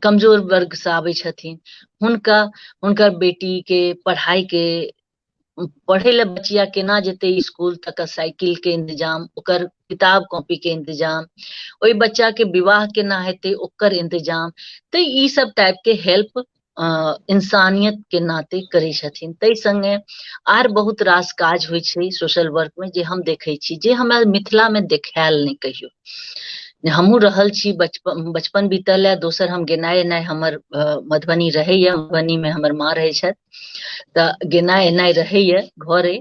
कमजोर वर्ग से आबै छथिन हुनका हुनकर बेटी के पढ़ाई के पढ़े ले बचिया केना जेते स्कूल तक साइकिल के इंतजाम ओकर किताब कॉपी के इंतजाम ओहि बच्चा के विवाह केना हेते ओकर इंतजाम ते ई सब टाइप के हेल्प इंसानियत के नाते करे छथिन ताहि संगे आर बहुत रास काज होइ छै सोशल वर्क में जे हम देखे छी जे हमरा मिथिला में देखायल नहीं कहियो हमू रहल छी बचपन बचपन बीतल है दोसर हम गेनाए एनाए हमर मधुबनी रहैया मधुबनी में हमर माँ रहे छथि तऽ गेनाइ एनाइ रहैए घरे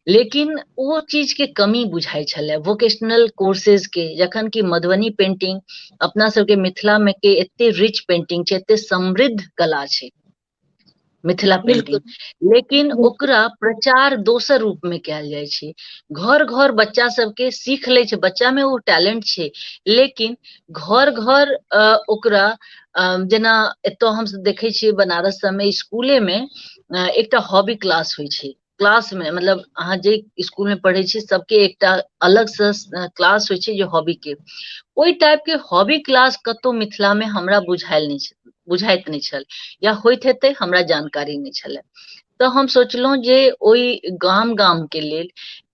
लेकिन ओ चीजके कमी बुझाइ छलै वोकेशनल कोर्सेजके जखन कि मधुबनी पेंटिंग अपना सबके मिथिलामे के एते रिच पेंटिंग छै एते समृद्ध कला छै मिथिला पेंटिंग लेकिन ओकरा प्रचार दोसर रूप में कयल जाइ छै घर घर बच्चा सबके सीख लै छै बच्चा में ओ टैलेंट छै लेकिन घर घर ओकरा जेना एतय हम देखै छियै बनारस सबमे स्कूले मे एकटा हॉबी क्लास होइ छै क्लास मे मतलब अहाँ जे स्कूल मे पढ़ै छी सबके एकटा अलग से क्लास होइ छै जे हॉबी के ओहि टाइप के हॉबी क्लास कतौ मिथिला मे हमरा बुझायल नहि छै बुझाइत नहि छल या होइत हेतै हमरा जानकारी नहि छलै तऽ हम सोचलहुँ जे ओहि गाम गाम के लेल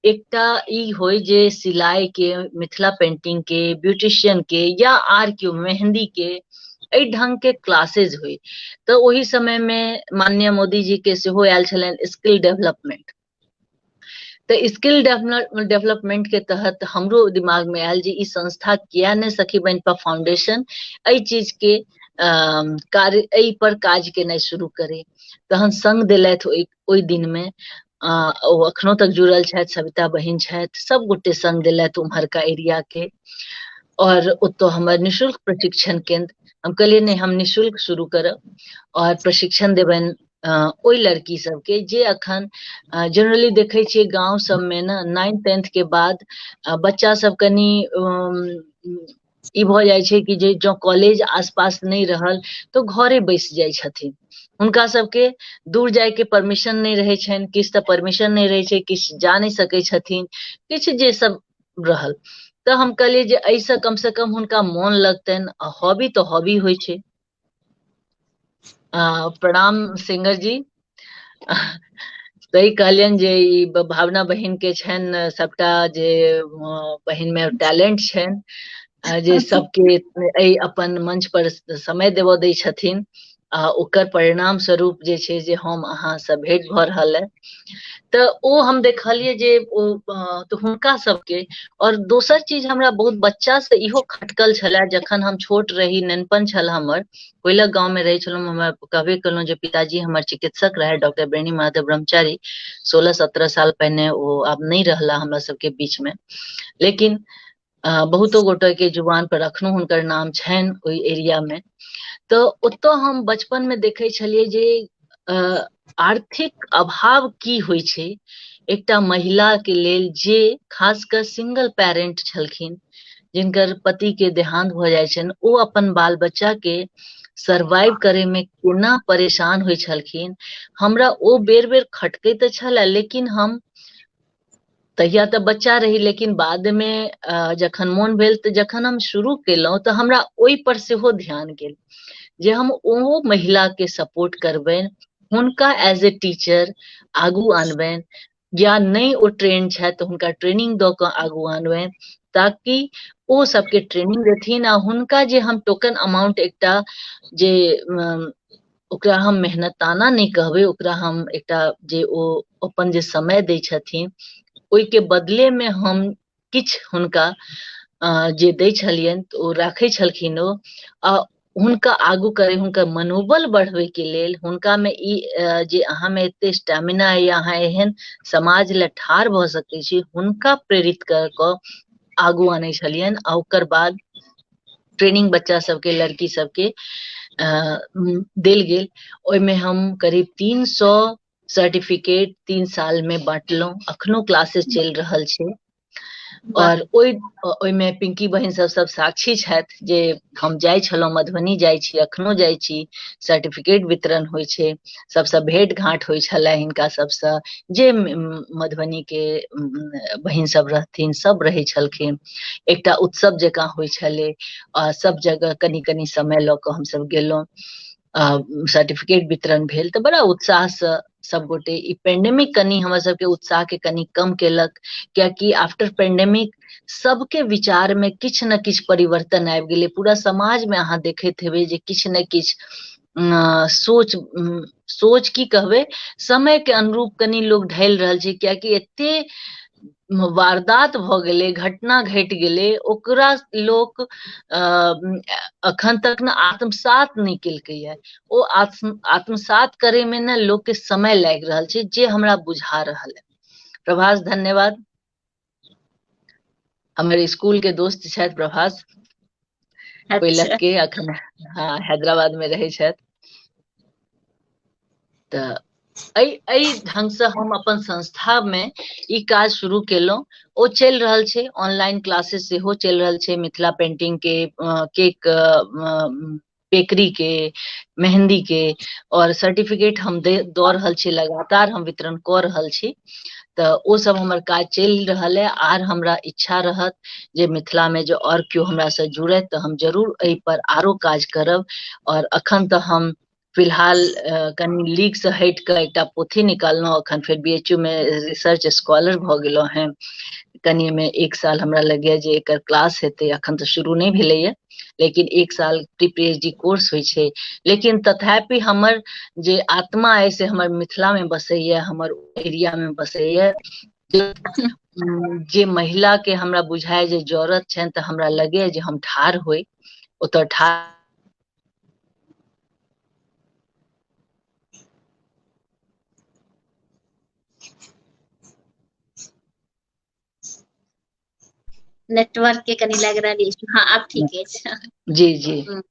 एकटा ई होय जे सिलाई के मिथिला पेंटिंग के ब्यूटिशियन के या आर केओ मेहन्दी के एहि ढंग के क्लासेज होय तऽ ओहि समय मे माननीय मोदी जी के सेहो आयल छलनि स्किल डेवलपमेंट तऽ स्किल डेवलपमेंट के तहत हमरो दिमाग में आयल जे ई संस्था किया ने सखी बन पर फाउंडेशन एहि चीज के कार्य एहि पर काज केनाइ शुरू करे तहन संग दिलथि ओहि ओहि दिन में ओ अखनो तक जुड़ल छथि सविता बहिन छथि सब गोटे संग दिलथि उम्हरका एरिया के और ओतो हमर निशुल्क प्रशिक्षण केंद्र हम कहलिए नहीं हम निशुल्क शुरू करब और प्रशिक्षण देबनि ओहि लड़की सबके जे अखन जनरली देखै छियै गाँव सबमे ने नाइन्थ टेंथ के बाद बच्चा सब कनि ई भऽ जाइ छै कि जे जँ कॉलेज आसपास नहि रहल तऽ घरे बैसि जाइ छथिन हुनका सबके दूर जायके परमिशन नहि रहै छनि किछु तऽ परमिशन नहि रहै छै किछु जा नहि सकै छथिन किछु जे सब रहल तऽ हम कहलियै जे एहिसँ कमसँ कम हुनका मोन लगतनि आ हॉबी तऽ हॉबी होइ छै आ, प्रणाम सिंगर जी सही कहलियनि जे ई ब- भावना बहिन के छनि सबटा जे अ, बहिन मे टैलेंट छनि आ, जे सबके एहि अपन मंच पर समय देबऽ दै छथिन आ ओकर परिणाम स्वरूप जे छै जे हम अहाँ से भेंट भऽ रहल है तऽ ओ हम देखलियै जे ओ अ, तऽ हुनका सबके और दोसर चीज हमरा बहुत बच्चा से इहो खटकल छले जखन हम छोट रही नेनपन छल हमर कोयला गांव में रहे छलहुँ हमरा कहबे केलहुँ जे पिताजी हमर चिकित्सक रहे डॉक्टर बेणी महादेव ब्रह्मचारी सोलह सत्रह साल पहिने ओ आब नहि रहला हमरा सबके बीच में लेकिन बहुतो गोटे के जुबान पर अखनो हुनकर नाम छनि ओहि एरिया मे तऽ ओतऽ हम बचपन मे देखै छलियै जे आर्थिक अभाव की होइ छै एकटा महिला के लेल जे खास कऽ सिंगल पेरेंट छलखिन जिनकर पति के देहांत भऽ जाइ छनि ओ अपन बाल बच्चा के सर्वाइव करे में केना परेशान होइ छलखिन हमरा ओ बेर बेर खटके तऽ छल लेकिन हम तहिया तऽ बच्चा रही लेकिन बादमे जखन मोन भेल तऽ जखन हम शुरू केलहुँ तऽ हमरा ओहिपर सेहो ध्यान गेल जे हम ओहो महिलाके सपोर्ट करबनि हुनका एज ए टीचर आगू अनबनि या नहि ओ ट्रेन छथि तऽ हुनका ट्रेनिंग दऽ कऽ आगू अनबनि ताकि ओ सबके ट्रेनिंग देथिन आ हुनका जे हम टोकन अमाउंट एकटा जे ओकरा हम मेहनताना नहि कहबै ओकरा हम एकटा जे ओ अपन जे समय दै छथिन ओहिके बदलेमे हम किछु हुनका जे दै छलियनि तऽ ओ राखै छलखिन ओ आ हुनका आगू करै हुनकर मनोबल बढ़बैके लेल हुनकामे ई जे अहाँमे एते स्टेमिना अइ अहाँ एहन समाज लए ठाढ़ भऽ सकै छी हुनका प्रेरित कऽ कऽ आगू आनै छलियनि आ ओकर बाद ट्रेनिंग बच्चा सबके लड़की सबके अ, म, देल गेल ओहिमे हम करीब तीन सौ सर्टिफिकेट तीन साल में बांटलहुं अखनो क्लासेस चलि रहल छै वाह। और ओहि ओहिमे पिंकी बहिन सब सब साक्षी छथि जे हम जाइ छलहुं मधुबनी जाइ छी अखनो जाइ छी सर्टिफिकेट वितरण होइ छै सभसँ भेट घाँट होइ छलै हिनका सभसँ जे मधुबनीके बहिन सभ रहथिन सभ रहै छलखिन एकटा उत्सव जकाँ होइ छलै आ सभ जगह कनि कनि समय लऽ कऽ हमसभ गेलहुँ सर्टिफिकेट वितरण भेल तऽ बड़ा उत्साहसँ सभगोटे ई पेंडेमिक कनि हमर सभके उत्साहके कनि कम केलक कियाकि आफ्टर पेंडेमिक सबके विचार में किछु ने किछु परिवर्तन आबि गेलै पूरा समाज में अहाँ देखैत हेबै जे किछु ने किछु सोच सोच की कहबै समय के अनुरूप कनि लोग ढल रहल छै कियाकि एते वारदात भऽ गेलै घटना घटि गेलै ओकरा लोक अखन तक ने आत्मसात नहि केलकैए ओ आत्म आत्मसात करैमे ने लोकके समय लागि रहल छै जे हमरा बुझा रहल है प्रभास धन्यवाद हमर स्कूल के दोस्त छथि प्रभास पहिलक के अखन हँ हैदराबाद में रहै छथि तऽ एहि एहि ढंगसँ हम अपन संस्थामे ई काज शुरू केलहुँ ओ चलि रहल छै ऑनलाइन क्लासेस सेहो चलि रहल छै मिथिला पेंटिंग के केक बेकरी के मेहंदी के और सर्टिफिकेट हम दे दऽ रहल छी लगातार हम वितरण कऽ रहल छी तऽ ओ सब हमर काज चलि रहल है आर हमरा इच्छा रहत जे मिथिला में जे और केओ हमरा से जुड़त तऽ हम जरूर एहि पर आरो काज करब और अखन तऽ हम फिलहाल कनि लीग से हट कऽ एकटा पोथी निकाललहुँ अखन फेर बी एच यू में रिसर्च स्कॉलर भऽ गेलहुँ हैं कनि में एक साल हमरा लगैया जे एकर क्लास हेतै अखन तऽ शुरू नहि भेलैया लेकिन एक साल pre P H D course होइ छै लेकिन तथापि हमर जे आत्मा अइ से हमर मिथिलामे बसैए हमर एरियामे बसैए जे महिलाके हमरा बुझाय जे जरूरत छनि तऽ हमरा लगैए जे हम ठाढ़ होइ ओतऽ ठाढ़ नेटवर्क के कनि लागि रहल अछि हँ आब ठीक अछि जी जी हम्म।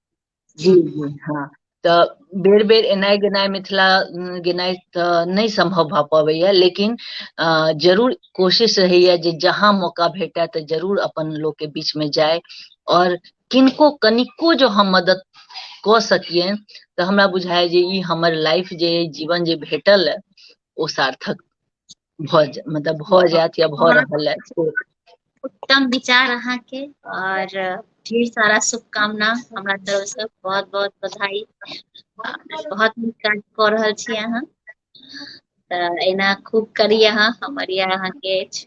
जी जी हँ तऽ बेर बेर एनाइ गेनाइ मिथिला उम, गेनाइ तऽ नहि सम्भव भऽ पबैया लेकिन अ, जरूर कोशिश रहैया जे जहाँ मौका भेटए तऽ जरूर अपन लोक के बीच में जाय और किनको कनिको जो हम मदद कऽ सकियनि तऽ हमरा बुझाय जे ई हमर लाइफ जे अइ, जीवन जे भेटल अइ, ओ सार्थक भऽ जा मतलब भऽ जायत या भऽ रहल अछि उत्तम विचार अहाँके और ढेर सारा शुभकामना हमरा तरफ से बहुत बहुत बधाई बहुत नीक काज कऽ रहल छी अहाँ तऽ एना खूब करी अहाँ हमर या अहाँके अछि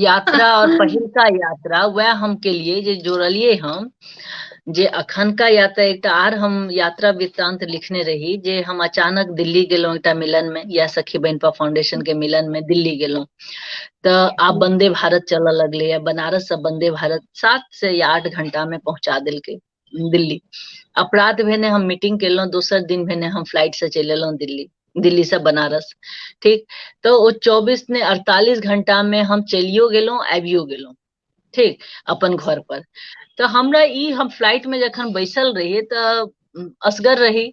यात्रा और पहिलका यात्रा वह हम के लिए जे जोड़लिए हम जे अखनका यात्रा एकटा आर हम यात्रा वृत्तांत लिखने रही जे हम अचानक दिल्ली गेलहुँ एकटा मिलन में या सखी बहनपा फाउंडेशन के मिलन में दिल्ली गेलहुँ तो आब बंदे भारत चलऽ लगले या बनारस से बंदे भारत सात से या आठ घंटा में पहुंचा दिलके दिल्ली अपराध भेने हम मीटिंग केलहुँ दोसर दिन भेने हम फ्लाइट से चलि एलहुँ दिल्ली दिल्ली से बनारस ठीक तो ओ चौबीस ने अड़तालीस घंटा में हम चलियो गेलहुँ आबियो गेलहुँ ठीक अपन घर पर तो हमरा ई हम फ्लाइट में जखन बैसल रहिए तो असगर रही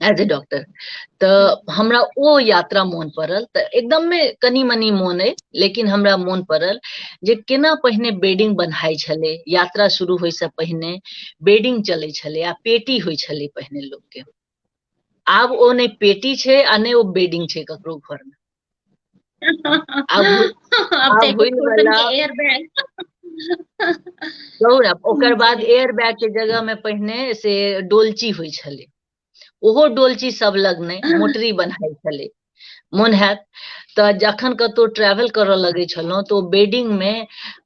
एज ए डॉक्टर तऽ हमरा ओ यात्रा मोन पड़ल तऽ एकदममे कनि मनि मोन अइ लेकिन हमरा मोन पड़ल जे केना पहिने बेडिंग बन्हाइ छलै यात्रा शुरू होइसँ पहिने बेडिंग चलै छलै आ पेटी होइ छलै पहिने लोकके आब ओ नहि पेटी छै आ नहि ओ बेडिंग छै ककरो घरमे अब तऽ एयर बैग कहू ने ओकर बाद एयर बैग के जगह में पहिने से डोलची होइ छलै ओहो डोलची सब लग नहि मोटरी बनाइ छलै मोन हैत तऽ जखन कतौ ट्रैवल करऽ लगै छलहुँ तऽ ओ बेडिंग मे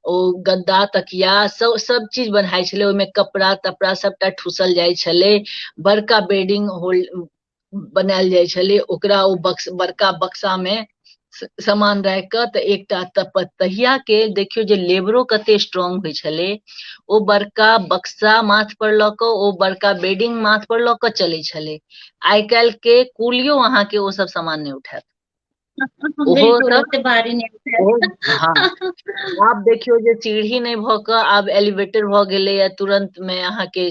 ओ गद्दा तकिया सब सब चीज बनाइ छलै ओहिमे कपड़ा तपड़ा सबटा ठूसल जाइ छलै बड़का बेडिंग होल्ड बनायल जाइ छलै ओकरा ओ बक्स बड़का बक्सामे सामान राखि कऽ तऽ एकटा तहिया के देखियौ जे लेबरो कते स्ट्रांग होइ छलै ओ बड़का बक्सा माथ पर लऽ कऽ ओ बड़का बेडिंग माथ पर लऽ कऽ चलै छलै आइ काल्हि के कुलियो अहाँके ओ सब सामान नहि उठायत ओहो तुरंत बारी नहि आब देखियौ जे सीढ़ी नहि भऽ कऽ आब एलिवेटर भऽ गेलैए तुरंत मे अहाँके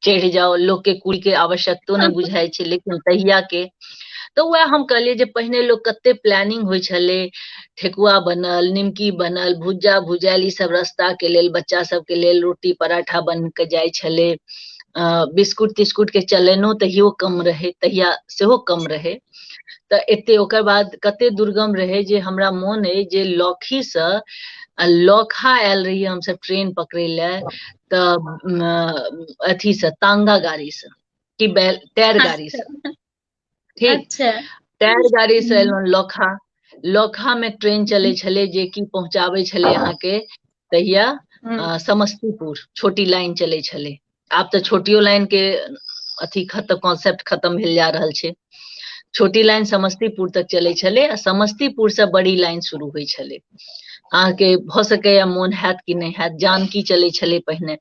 चढ़ि जाओ लोग के कुल के आवश्यकतो नहीं बुझाई छे लेकिन तहिया के तो वह हम कहलिए जे पहिने लोग कते प्लानिंग हो छे ठेकुआ बनल निमकी बनल भुज्जा भुजायल ई सब रस्ता के लेल बच्चा सब के लेल रोटी पराठा बन के जाय छे बिस्कुट तिस्कुट के चलनो तहियो कम रहे तहिया सेहो कम रहे तऽ एते ओकर बाद कते दुर्गम रहै जे हमरा मोन अइ जे लौखीसँ आ लौखा आयल रही हमसभ ट्रेन पकड़ै लए तऽ अथीसँ तांगा गाड़ीसँ कि बैल टायर अच्छा। गाड़ीसँ ठीक अच्छा। टायर गाड़ीसँ हम्म। एलहुँ लौखा लौखामे ट्रेन चलै छलै जे कि पहुँचाबै छलै अहाँके तहिया हम्म। समस्तीपुर छोटी लाइन चलै छलै आब तऽ छोटियो लाइन के अथी खत्म कॉन्सेप्ट खत्म भेल जा रहल छै छोटी लाइन समस्तीपुर तक चलै छलै आ समस्तीपुर से बड़ी लाइन शुरू होइ छलै अहाँके भऽ सकैया मोन हैत कि नहि हैत जानकी चलै छलै पहिने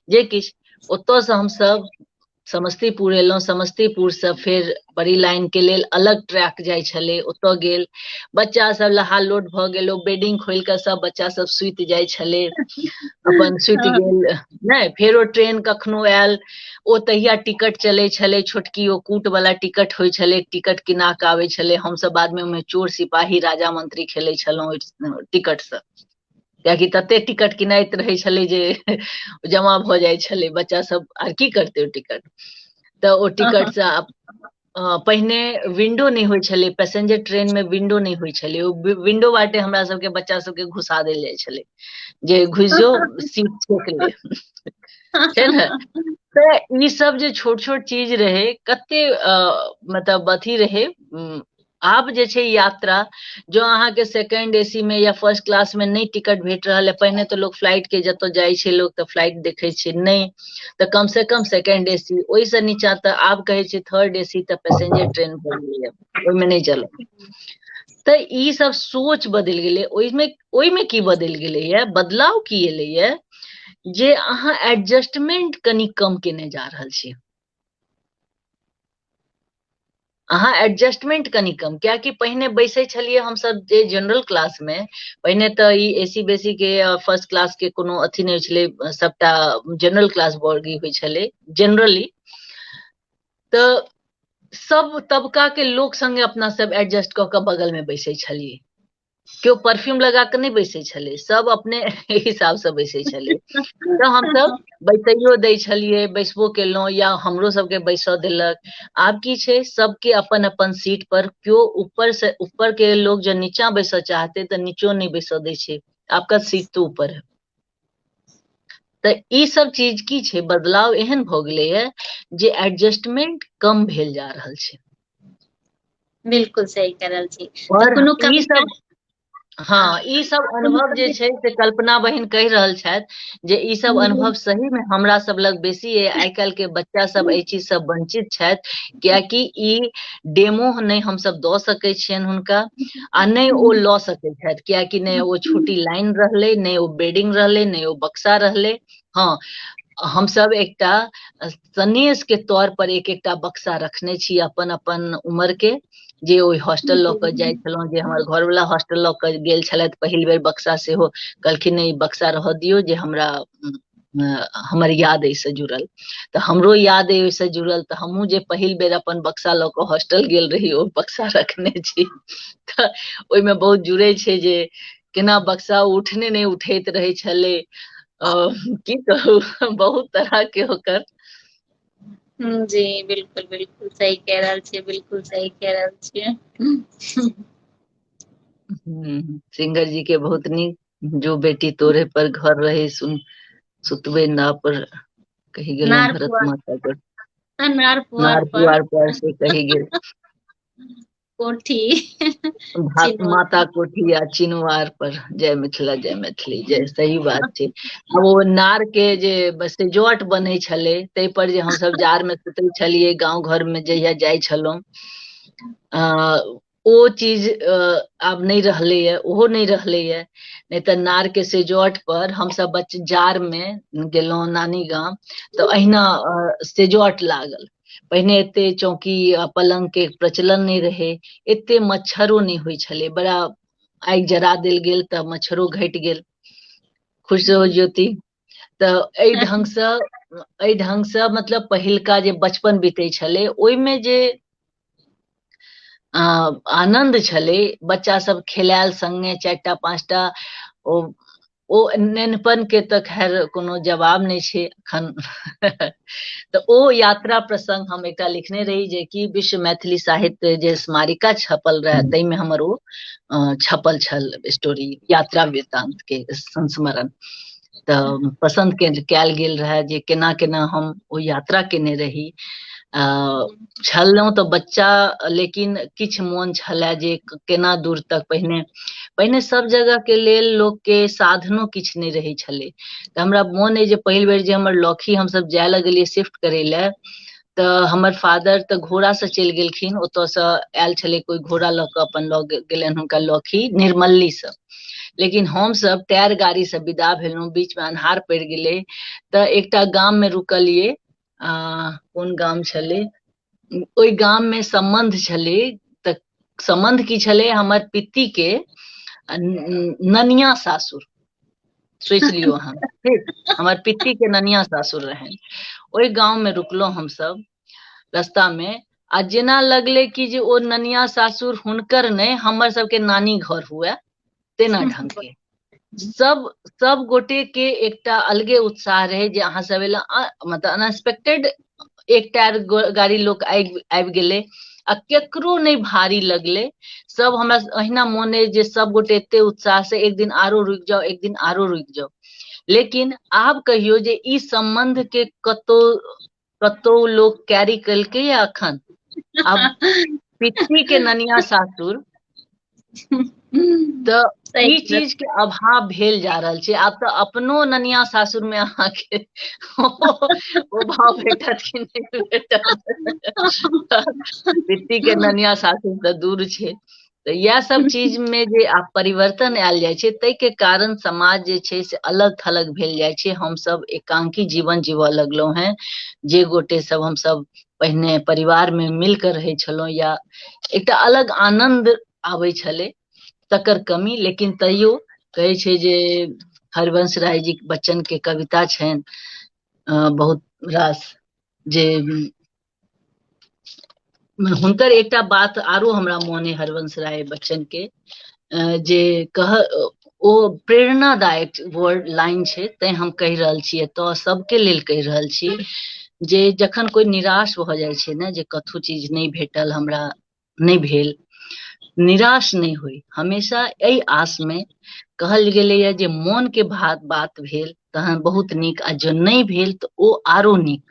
जे किछु ओतयसँ हमसभ समस्तीपुर एलहुँ समस्तीपुरसँ फेर बड़ी लाइनके लेल अलग ट्रैक जाइ छलै ओतय गेल बच्चा सब लहा लोट भऽ गेल ओ बेडिंग खोलि कऽ सब बच्चा सब सुति जाइ छलै अपन सुति गेल नहि फेरो ट्रेन कखनो आयल ओ तहिया टिकट चलै छलै छोटकी ओ कूट वाला टिकट होइ छलै टिकट किना कऽ आबै छलै हमसभ बादमे ओहिमे चोर सिपाही राजा मंत्री खेलै छलहुँ ओहि टिकटसँ कियाकि तते टिकट किनाइत रहै छलै जे जमा भऽ जाइ छलै बच्चा सब आर की करतै ओ टिकट तऽ ओ टिकटसँ अ, पहिने विंडो नहि होइ छलै पैसेंजर ट्रेन में विंडो नहि होइ छलै ओ वि- विंडो बाटे हमरा सबके बच्चा सबके घुसा देल जाइ छलै जे घुस जो सीट छेक ले छै ने तऽ ई सब जे छोट छोट चीज रहै कते अ, मतलब अथी रहै उम, आब जे छै यात्रा जो अहाँके सेकंड एसी में या फर्स्ट क्लास में नहि टिकट भेट रहल है पहिने तऽ लोक फ्लाइट के जतऽ जाइ छै लोक तऽ फ्लाइट देखै छै नहि तऽ कम से कम सेकेंड ए सी ओहिसँ नीचा तऽ आब कहै छै थर्ड ए सी तऽ पैसेंजर ट्रेन भऽ गेलैए ओहिमे नहि चलत तऽ ई सब सोच बदलि गेलै ओहिमे ओहिमे की बदलि गेलैए बदलाव की एलैए जे अहाँ एडजस्टमेंट कनि कम केने जा रहल छी अहाँ एडजस्टमेंट कनि कम कियाकि पहिने बैसै छलियै हमसभ जे जनरल क्लासमे पहिने तऽ ई ए सी बेसी के फर्स्ट क्लास के कोनो अथी नहि छलै सभटा जनरल क्लास वर्गी होइ छलै जनरली तऽ सब तबका के लोक संगे अपना सब एडजस्ट कऽ कऽ बगल में बैसे छलिए केओ परफ्यूम लगा कऽ नहि बैसै छलै सब अपने हिसाबसँ बैसै छलै तऽ हमसब बैसैयो दै छलियै बैसबो केलहुँ या हमरो सबके बैसऽ देलक आब की छै सबके अपन अपन सीट पर केओ ऊपर से ऊपर के लोग जे नीचा बैसऽ चाहते तऽ नीचो नहि बैसऽ दै छै आपका सीट तो ऊपर है तऽ ई सब चीज की छै बदलाव एहन भऽ गेलैए जे एडजस्टमेंट कम भेल जा रहल छै बिल्कुल सही कह रहल छी तऽ पर कोनो ई कविता सब हँ ई सब कोनो अनुभव जे कवि छै से कल्पना बहिन कहि रहल छथि जे ई सब अनुभव सही मे हमरा सब लग बेसी अइ आइ काल्हि के बच्चा सब एहि चीज से वंचित छथि कियाकि ई डेमो नहि हमसब दऽ सकै छियनि हुनका आ नहि ओ हम्म। लऽ सकैत छथि कियाकि नहि ओ छोटी लाइन रहलै नहि ओ बेडिंग रहलै नहि ओ बक्सा रहलै हँ हमसभ एकटा सनेस के तौर पर एक एकटा बक्सा रखने छी अपन अपन उमर के जे ओहि हॉस्टल लऽ के जाय छलहुँ जे हमर घर वाला हॉस्टल लऽ के गेल छलथि पहिल बेर बक्सा सेहो कहलखिन ई बक्सा रहऽ दियौ जे हमरा हमर याद एहिसँ जुड़ल तऽ हमरो याद अइ ओहिसँ जुड़ल तऽ हमहूँ जे पहिल बेर अपन बक्सा लऽ कऽ हॉस्टल गेल रही ओ बक्सा रखने छी तऽ ओहिमे बहुत जुड़ै छै जे केना बक्सा उठने नहि उठैत रहै छलै की कहू बहुत तरह के ओकर जी बिल्कुल बिल्कुल सही कह रहल छियै बिल्कुल सही कह रहल छियै सिंगर जी के बहुत नीक जो बेटी तोरे पर घर रहे सुन सुतबे ना पर कही गेल नार भरत पुआर। माता पर आ, नार पुआर नार पर पुआर पर से कही गेल कोठी भा- चिनवार। माता कोठी आ चिनवार पर जय मिथिला जय मैथिली जय सही बात छै अब ओ नार के जे बस से जट बनै छलै ताहि पर जे हमसब जार में सुतै छलियै गांव घर में जहिया जाइ छलहुँ अ, ओ चीज आब नहि रहलैए ओहो नहि रहलैए नहि तऽ नारके सेजोट पर हमसभ बच्च जाड़मे गेलहुँ नानी गाम तऽ अहिना सेजोट लागल पहिने एते चौकी आ पलंग के प्रचलन नहि रहे एते मच्छरो नहि होइ छलै बड़ा आगि जरा देल गेल तऽ मच्छरो घटि गेल खुश रहू ज्योति तऽ एहि ढङ्गसँ एहि ढङ्गसँ मतलब पहिलका जे बचपन बीतै छलै ओहिमे जे आनन्द छलै बच्चासभ खेलायल सङ्गे चारि टा पाँच टा ओ ओ नेनपनके तऽ खैर कोनो जवाब नहि छै एखन तऽ ओ यात्रा प्रसङ्ग हम एकटा लिखने रही जे कि विश्व मैथिली साहित्य जे स्मारिका छपल रहए ताहिमे हमर ओ छपल छल स्टोरी यात्रा वृत्तान्तके संस्मरण तऽ पसन्द के कयल गेल रहय जे केना केना हम ओ यात्रा केने रही अ छलहुँ तऽ बच्चा लेकिन किछु मोन छलए जे केना दूर तक पहिने पहिने सभ जगह के लेल लोक के साधनो किछु नहि रहै छलै तऽ हमरा मोन अइ जे पहिल बेर जे हमर लॉकी हमसभ जाय लगलियै शिफ्ट करै लए तऽ हमर फादर तऽ घोड़ा से चलि गेलखिन ओतऽ से आयल छलै कोइ घोड़ा लऽ कऽ अपन लऽ गे- गेलनि हुनका लखी निर्मल्ली से लेकिन हमसभ टायर गाड़ी से विदा भेलहुँ बीच मे अन्हार पड़ि गेलै तऽ एकटा गाम मे रुकलियै आ कोन गाम छलै ओहि गाम मे सम्बन्ध छलै तऽ सम्बन्ध की छलै हमर पित्ती के आ न- ननिया सासुर सोचि लियौ अहाँ ठीक हमर पित्ती के ननिया सासुर रहनि ओहि गांव में रुकलहुं हमसब रास्ता में आ जेना लगले कि जे ओ ननिया सासुर हुनकर नहि हमर सबके नानी घर हुए तेना ढंग के सब सब गोटे के एकटा अलगे उत्साह रहे जे अहाँ सब एला मतलब अनएक्सपेक्टेड एकटा गाड़ी लोक आबि आबि गेलै आ केकरो नहि भारी लगलै सब हमरा अहिना मोन अछि जे सब गोटे एते उत्साह से एक दिन आरो रुकि जाओ एक दिन आरो रुकि जाओ लेकिन आब कहियो जे ई सम्बन्ध के कतो कतो लोग कैरी कलके या अखन अब पिछली के ननिया सासुर तऽ सही ई चीज के अभाव भेल जा रहल छै आब तऽ अपनो ननिया सासुर मे अहाँके ओ भाव भेटत कि नहि भेटत बिट्टी के ननिया सासुर तऽ दूर छै तऽ इएह सब चीज मे जे आब परिवर्तन आयल जाइ छै ताहि के कारण समाज जे छै से अलग थलग भेल जाइ छै हमसभ एकांकी जीवन जीवय लगलहुं हें जे गोटे सब हमसभ पहिने परिवार में मिल के रहे छलहुँ या एकटा अलग आनंद आबै छलै तकर कमी लेकिन तैयो कहै छै जे हरिवंश राय जी बच्चन के कविता छनि अ, बहुत रास जे उम, हुनकर एकटा बात आरो हमरा मोन अइ हरिवंश राय बच्चन के जे कह ओ प्रेरणादायक वर्ड लाइन छै तैं हम कहि रहल छी एतय सबके लेल कहि रहल छी जे जखन कोई निराश भऽ जाइ छै ने जे कथो चीज नहि भेटल हमरा नहि भेल निराश नहि होइ हमेशा एहि आसमे कहल गेलैए जे मोनके भात बात भेल तहन बहुत नीक आ जँ नहि भेल तऽ ओ आरो नीक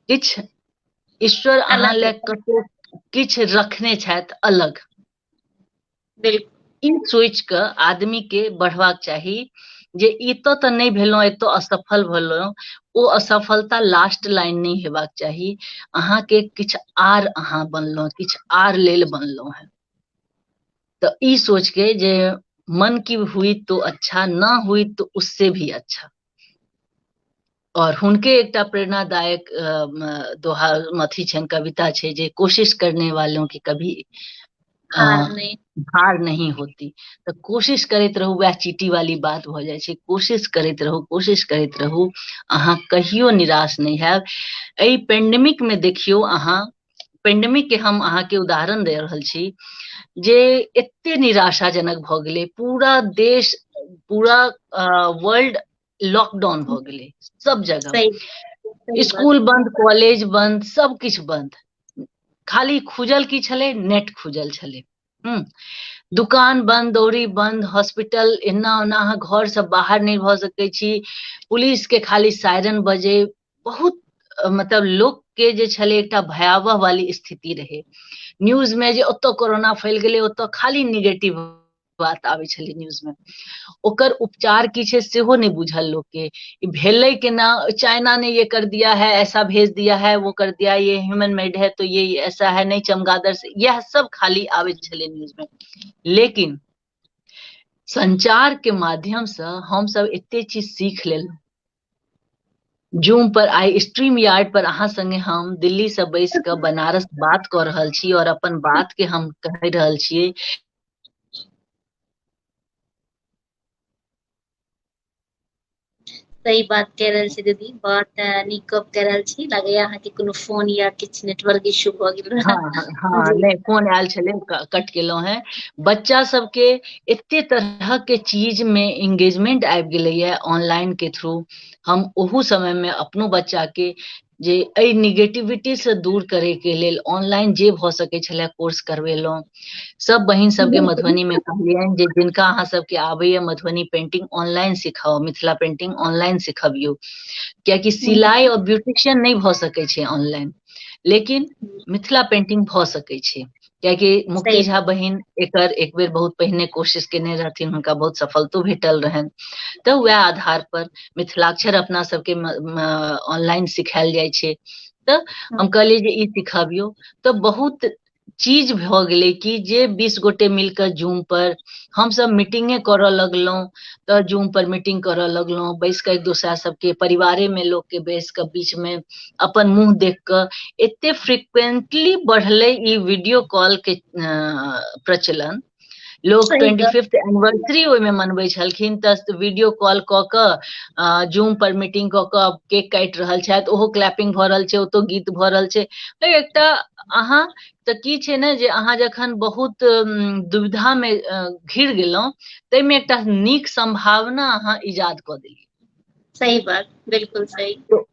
किछु ईश्वर अहाँ लए कतहु किछु रखने छथि अलग बिल्कुल ई सोचि कऽ आदमी के बढ़बाक चाही जे एतऽ तऽ नहि भेलहुँ एतऽ असफल भेलहुँ ओ असफलता लास्ट लाइन नहि हेबाक चाही अहाँके किछु आर अहाँ बनलहुँ किछु आर लेल बनलहुँ हेँ तऽ ई सोच के जे मन की हुई तो अच्छा ना हुई तो उससे भी अच्छा और हुनके एकटा प्रेरणादायक दोहा अथी छनि कविता छै जे कोशिश करने वालों की कभी हार नहीं होती तो कोशिश करते रहू वह चीटी वाली बात हो जाए कोशिश करते रहू कोशिश करते रहू अहा कहियो निराश नहीं है ए पेंडेमिक में देखियो अहा पेंडेमिक के हम अहा के उदाहरण दे रहल छी जे एते निराशाजनक भ गेले पूरा देश पूरा वर्ल्ड लॉकडाउन भऽ गेलै सब जगह सही सही स्कूल बंद कॉलेज बंद सब किछु बंद खाली खुजल की छलै नेट खुजल छलै हम्म। दुकान बंद दौरी बंद हॉस्पिटल एना ओना अहाँ घर से बाहर नहि भऽ सकै छी पुलिस के खाली सायरन बजे बहुत अ, मतलब लोक के जे छलै एकटा भयावह वाली स्थिति रहै न्यूज में जे ओतऽ कोरोना फैल गेलै ओतऽ खाली निगेटिव बात आबै छलै न्यूजमे ओकर उपचार की छै सेहो नहि बुझल लोकके ई भेलै केना चाइना ने ये कर दिया है ऐसा भेज दिया है वो कर दिया ये ह्यूमन मेड है तो ये ऐसा है नहीं चमगादड़ से यह सब खाली आबै छलै न्यूजमे लेकिन संचारके माध्यमसँ हमसभ एते चीज सीख लेलहुँ जूम पर आई स्ट्रीम यार्ड पर अहाँ संगे हम दिल्ली से बैस के बनारस बात कर रहल छी और अपन बात के हम कह रहल छी सही बात कह रहल छी दीदी बहुत नीक गप कह रहल छी लगे अहाँ के कोनो फोन या किछ नेटवर्क इशू भ गेल रहा हां हां नहीं फोन आयल छले कट गेलो हैं बच्चा सब के एते तरह के चीज में एंगेजमेंट आबि गेले ये ऑनलाइन के थ्रू हम ओहू समय में अपनो बच्चा के जे एहि निगेटिविटी से दूर करे के लेल ऑनलाइन जे भऽ सकै छले कोर्स करवेलहुँ सब बहिन सबके मधुबनी में कहलियनि जे जिनका अहाँ सबके आबैया मधुबनी पेंटिंग ऑनलाइन सिखाओ मिथिला पेंटिंग ऑनलाइन सिखबियौ कियाकि सिलाई और ब्यूटिशियन नहि भऽ सकै छै ऑनलाइन लेकिन मिथिला पेंटिंग भऽ सकै छै कियाकि मुकेश झा बहिन एकर एक बेर बहुत पहिने कोशिश केने रहथिन हुनका बहुत सफलतो भेटल रहनि तऽ वएह आधार पर मिथिलाक्षर अपना सबके ऑनलाइन सिखायल जाइ छै तऽ हम हम्म। कहलियै जे ई सिखाबियौ तऽ बहुत चीज भऽ गेलै कि जे बीस गोटे मिलकर जूम पर हमसभ मीटिंगे करऽ लगलहुँ तऽ जूम पर मीटिंग करऽ लगलहुँ बैस कऽ एक दोसरा सबके परिवारे मे लोकके बैस कऽ बीच मे अपन मुंह देख कऽ एते फ्रिक्वेंटली बढ़लै ई वीडियो कॉल के प्रचलन लोग ट्वेंटी फिफ्थ एनिवर्सरी ओहिमे मनबै छलखिन तऽ वीडियो कॉल कऽ कऽ जूम पर मीटिंग कऽ कऽ केक काटि रहल छथि ओहो क्लैपिंग भऽ रहल छै ओतौ गीत भऽ रहल छै एकटा अहाँ तऽ की छै ने जे अहाँ जखन बहुत दुविधामे घिर गेलहुँ ताहिमे एकटा नीक संभावना अहाँ इजाद कऽ देलियै सही बात बिल्कुल सही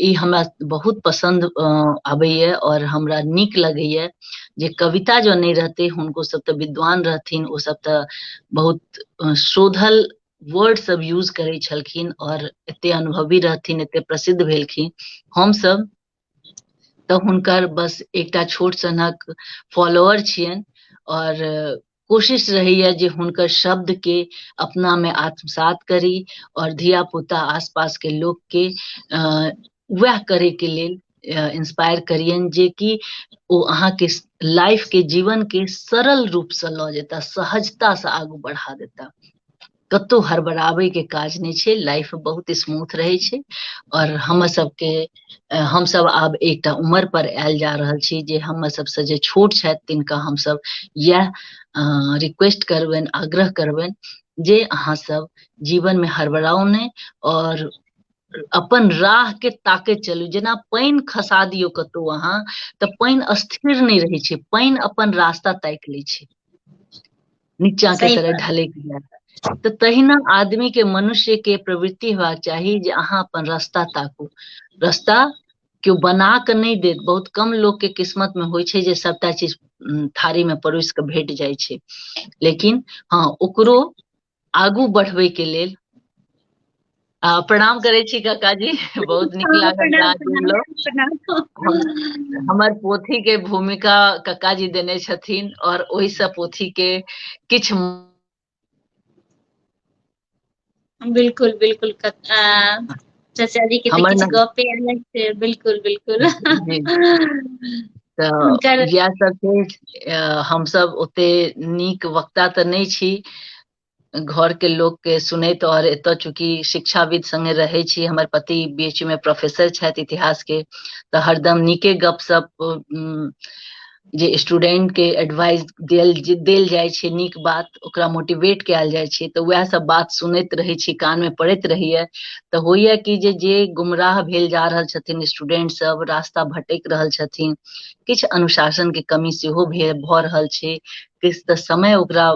ई हमरा बहुत पसंद आबैए और हमरा नीक लगैए जे कविता जो नहीं रहते हुनको सब तऽ विद्वान रहथिन ओ सब तऽ बहुत अ, शोधल वर्ड सब यूज करै छलखिन और एते अनुभवी रहथिन एते प्रसिद्ध भेलखिन हम सब तऽ हुनकर बस एकटा छोट सनक फॉलोअर छियनि और कोशिश रहैया जे हुनकर शब्द के अपना में आत्मसात करी और धिया पुता आसपास के लोग के वह करे के लेल इंस्पायर करियन जे कि ओ अहाँ के लाइफ के जीवन के सरल रूप से लऽ जेता सहजता से आगू बढ़ा देता कतहु हड़बड़ाबैके काज नहि छै लाइफ बहुत स्मूथ रहै छै आओर हमर सबके हमसब आब एकटा उमर पर आयल जा रहल छी जे हमर सबसँ जे छोट छथि तिनका हमसब इएह रिक्वेस्ट करबनि आग्रह करबनि जे अहाँ सब जीवनमे हड़बड़ाउ नहि आओर अपन राह के ताकैत चलू जेना पानि खसा दियौ कतहु अहाँ तऽ पानि स्थिर नहि रहै छै पानि अपन रास्ता ताकि लै छै नीचा के सही तरह बात ढलैक जाय तऽ तहिना आदमी के मनुष्य के प्रवृति हेबाक चाही जे अहाँ अपन रास्ता ताकू रस्ता केओ बना कऽ नहि देत बहुत कम लोक के किस्मत मे होइ छै जे सभटा चीज उम, थारी मे परोसि कऽ भेट जाइ छै लेकिन हँ ओकरो आगू बढ़बै के लेल प्रणाम करै छी काकाजी बहुत नीक लागल हमर पोथी के भूमिका काकाजी देने छथिन और ओहि से पोथी के किछ बिल्कुल बिल्कुल चाचा जी के तो किछ गपे अलग से बिल्कुल बिल्कुल तऽ इएह सब छै हम सब ओते नीक वक्ता तऽ नहि छी घरके लोकके सुनैत आओर एतय चूँकि शिक्षाविद सङ्गे रहै छी हमर पति बीचमे प्रोफेसर छथि इतिहासके तऽ हरदम नीके गपशप जे स्टूडेंटके एडवाइस देल देल जाइ छै नीक बात ओकरा मोटिवेट कयल जाइ छै तऽ उएह सब बात सुनैत रहै छी कानमे पड़ैत रहैए तऽ होइए कि जे जे गुमराह भेल जा रहल छथिन स्टूडेंट सब रास्ता भटकि रहल छथिन किछु अनुशासनके कमी सेहो भऽ रहल छै किछु तऽ समय ओकरा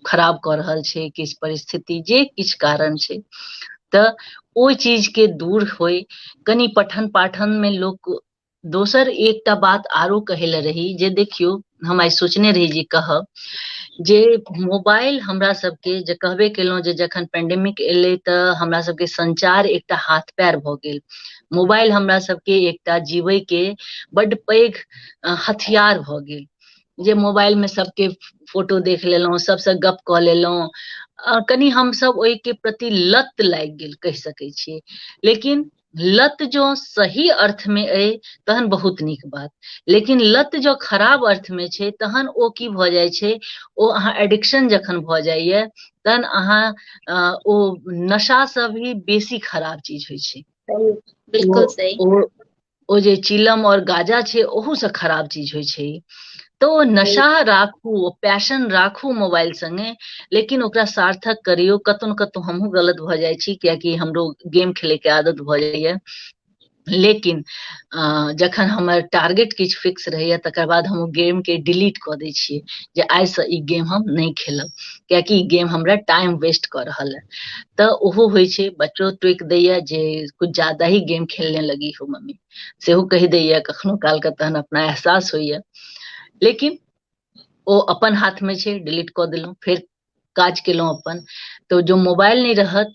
खराब कऽ रहल छै किछु परिस्थिति जे किछु कारण छै तऽ ओहि चीजके दूर होय कनि पठन पाठनमे लोक दोसर एकटा बात आरो कहै लए रही जे देखियौ हम आइ सोचने रही जे कहब जे मोबाइल हमरा सबके जे कहबे केलहुँ जे जखन पेंडेमिक एलै तऽ हमरा सबके संचार एकटा हाथ पैर भऽ गेल मोबाइल हमरा सबके एकटा जीवैके बड्ड पैघ हथियार भऽ गेल जे मोबाइलमे सभके फोटो देख लेलहुँ सभसँ गप कऽ लेलहुँ आ कनि हमसभ ओहिके प्रति लत लागि गेल कहि सकैत छियै लेकिन लत जँ सही अर्थमे अइ तहन बहुत नीक बात लेकिन लत जँ खराब अर्थमे छै तहन ओ की भऽ जाइ छै ओ अहाँ एडिक्शन जखन भऽ जाइए तहन अहाँ अ, ओ नशासँ भी बेसी खराब चीज होइ छै बिल्कुल सही ओ ओ जे चिलम और गाजा छै ओहू से खराब चीज होइ छै तो ओ नशा राखू ओ पैशन राखू मोबाइल संगे लेकिन ओकरा सार्थक करियो कतौ ने कतौ हमहूँ गलत भऽ जाइ छी कियाकि हमरो गेम खेले के आदत भऽ जाइए लेकिन अ, जखन हमर टारगेट किछु फिक्स रहैए तकर बाद हम ओ गेमके डिलीट कऽ दै छियै जे आइसँ ई गेम हम नहि खेलब कियाकि ई गेम हमरा टाइम वेस्ट कऽ रहल है तऽ ओहो होइ छै बच्चो टोकि दैए जे कुछ ज्यादा ही गेम खेलने लगी हो मम्मी सेहो कहि दैए कखनो कालके तहन अपना एहसास होइए लेकिन ओ अपन हाथमे छै डिलीट कऽ देलहुँ फेर काज केलहुँ अपन तऽ जो मोबाइल नहि रहत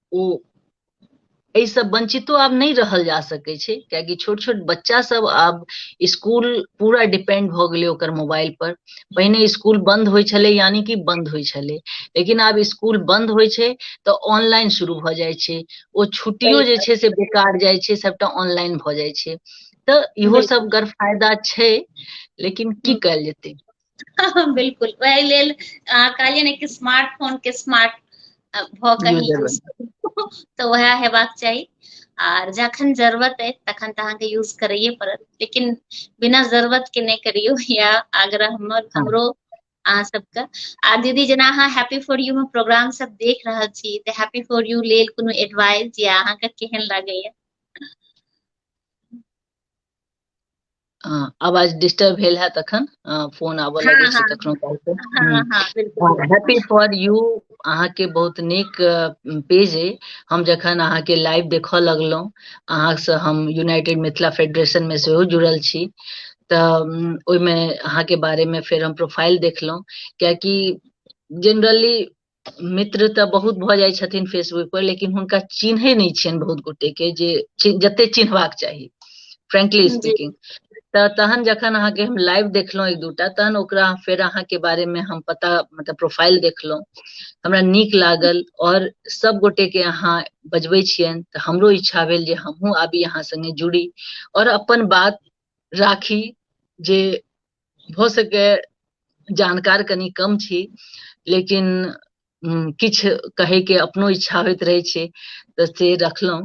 ओ एहिसँ वंचितो आब नहि रहल जा सकै छै कियाकि छोट छोट बच्चा सब आब स्कूल पूरा डिपेंड भऽ गेलै ओकर मोबाइल पर पहिने स्कूल बंद होइ छलै यानी कि बंद होइ छलै लेकिन आब स्कूल बंद होइ छै तऽ ऑनलाइन शुरू भऽ जाइ छै ओ छुट्टियो जे छै से बेकार जाइ छै सबटा ऑनलाइन भऽ जाइ छै तऽ इहो सब गर फायदा छै लेकिन की कयल जेतै हँ, बिल्कुल वएह लेल अहाँ कहलियै ने कि स्मार्ट फोन के स्मार्ट अ, भऽ कऽ ही यूजर यूज बने करू तऽ वएह हेबाक चाही आर जखन जरूरत अइ तखन तऽ अहाँके यूज करैए पड़त लेकिन बिना जरूरत के नहि करियौ या आग्रह हमर हँ हमरो अहाँ सबके आ दीदी जेना अहाँ हैप्पी फॉर यू मे प्रोग्राम सब देख रहल छी तऽ हैप्पी फॉर यू लेल कोनो एडवाइस या अहाँके केहन लागैए हाँ, आवाज डिस्टर्ब भेल है तखन हाँ, फोन आबऽ हाँ, लगे छै हाँ, कखनो काल के हाँ, हम्म। हाँ, बिल्कुल बिल्कुल। हैप्पी फॉर यू अहाँ के बहुत नीक पेज अइ हम जखन अहाँ के लाइव देखऽ लगलहुँ अहाँ से हम यूनाइटेड मिथिला फेडरेशन में सेहो जुड़ल छी तऽ उम, ओहिमे अहाँ के बारे में फेर हम प्रोफाइल देखलहुँ कियाकि जनरली मित्र तऽ बहुत भऽ जाइ छथिन फेसबुक पर लेकिन हुनका चिन्है नहि छियनि बहुत गोटे के जे चि- जते चिन्हबाक चाही फ्रेंकली जी स्पीकिंग तऽ तहन जखन अहाँके हम लाइव देखलहुँ एक दूटा तहन ओकरा फेर अहाँके बारे में हम पता मतलब प्रोफाइल देखलहुँ हमरा नीक लागल और सब गोटे के अहाँ बजबै छियनि तऽ हमरो इच्छा भेल जे हमहूँ आबी अहाँ संगे जुड़ी और अपन बात राखी जे भऽ सके जानकार कनि कम छी लेकिन किछु कहैके अपनो इच्छा होइत रहै छै तऽ से रखलहुँ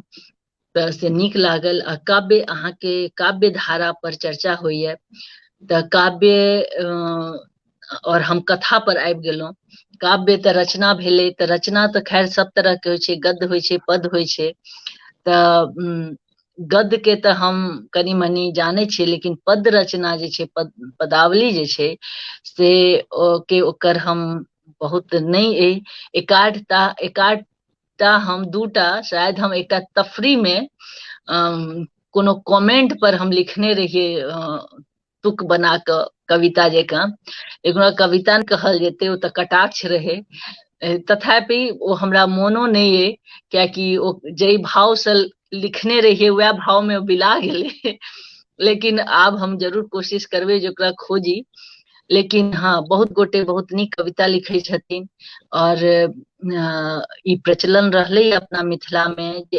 तऽ से नीक लागल आ काव्य अहाँके काव्य धारा पर चर्चा होइए तऽ काव्य और हम कथा पर आबि गेलहुँ काव्य तऽ रचना भेलै तऽ रचना तऽ खैर सब तरह के होइ छै गद्य होइ छै पद होइ छै तऽ गद्य के तऽ हम कनी मनी जानै छियै लेकिन पद रचना जे छै पद पदावली जे छै से ओ के ओकर हम बहुत नहि अइ एकाठटा एकाठटा हम दूटा शायद हम एकटा तफरी मे अम, कोनो कमेंट पर हम लिखने रहिए तुक बना कऽ कविता जकाँ एकरा कविता ने कहल जेतै ओ तऽ कटाक्ष रहै तथापि ओ हमरा मोनो नहि अइ कियाकि ओ जाहि भावसँ लिखने रहियै वएह भावमे ओ बिला गेलै लेकिन आब हम जरूर कोशिश करबै जे ओकरा खोजी लेकिन हाँ बहुत गोटे बहुत नीक कविता लिखै छथिन आओर ई प्रचलन रहलै अपना मिथिलामे जे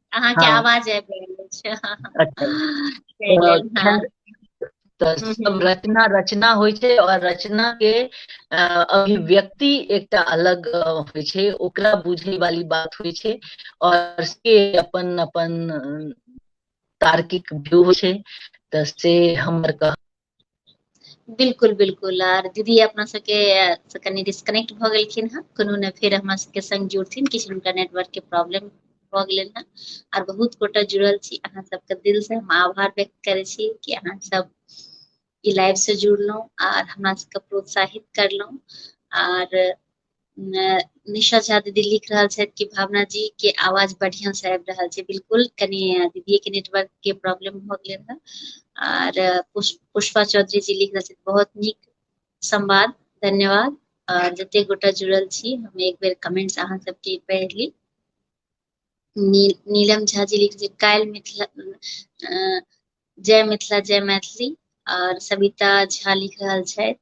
अहाँके हाँ। आवाज आबि रहल छै अच्छा। हाँ। हाँ। तऽ हम्म, सब हम्म। रचना रचना होइ छै और रचना के अ, अभिव्यक्ति एकटा अलग अ, होइ छै ओकरा बुझे वाली बात होइ छै और से अपन अपन अ, तार्किक व्यू होइ छै तऽ से हमर कह बिल्कुल बिल्कुल आर दीदी अपना सबके से कनि डिस्कनेक्ट भऽ गेलखिन हँ कोनो ने फेर हमरा सबके संग जुड़थिन किछु हुनका नेटवर्क के प्रॉब्लम भऽ गेलनि हँ आर बहुत गोटा जुड़ल छी अहाँ सबके दिल से हम आभार व्यक्त करै छी कि अहाँ सब ई लाइव से जुड़लहुँ आर हमरा सबके प्रोत्साहित करलहुँ आर निशा झा दीदी लिख रहल छथि कि भावना जी के आवाज बढ़िया से आबि रहल छै बिल्कुल कनि दीदी के नेटवर्क के प्रॉब्लम भ गेल है आर पुष्पा चौधरी जी लिख रहल छथि बहुत नीक संवाद धन्यवाद आर जते गोटा जुड़ल छी हम एक बेर कमेंट्स अहाँ सबके पढ़ि ली नील, नीलम झा जी लिखै छै काल्हि मिथिला अ, जय मिथिला जय मैथिली और सविता झा लिख रहल छथि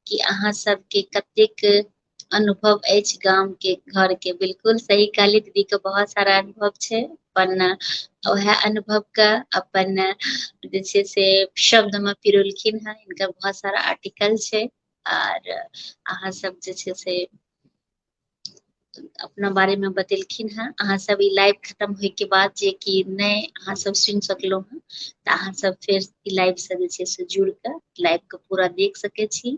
कि अहाँ सबके कतेक अनुभव अछि गाम के घर के बिल्कुल सही कहली दीदी के बहुत सारा अनुभव छै अपन वएह अनुभव के अपन जे छै से शब्द में पिरोलखिन हेँ इनका बहुत सारा आर्टिकल छै आर अहाँ सब जे छै से अपना बारे मे बतेलखिन हेँ अहाँ सब ई लाइव खतम होय के बाद जे कि नहि अहाँ सब सुनि सकलहुँ हेँ तऽ अहाँ सब फेर ई लाइव से जे छै से जुड़ कऽ लाइव के पूरा देख सकै छी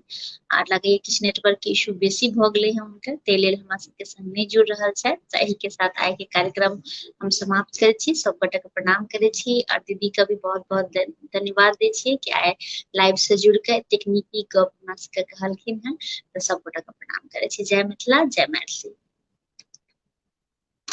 आर लगैया किछु नेटवर्क के इशू बेसी भऽ गेलै हेँ हुनकर ताहि लेल हमरा सबके संग नहि जुड़ रहल छथि तऽ एहि के साथ आइ के कार्यक्रम हम समाप्त करै छी सब गोटे के प्रणाम करै छी आर दीदी के भी बहुत बहुत धन्यवाद दै छियै कि आइ लाइव से जुड़ कऽ एतेक नीक नीक गप हमरा सबके कहलखिन हँ तऽ सब गोटा के प्रणाम करै छी जय मिथिला जय मैथिली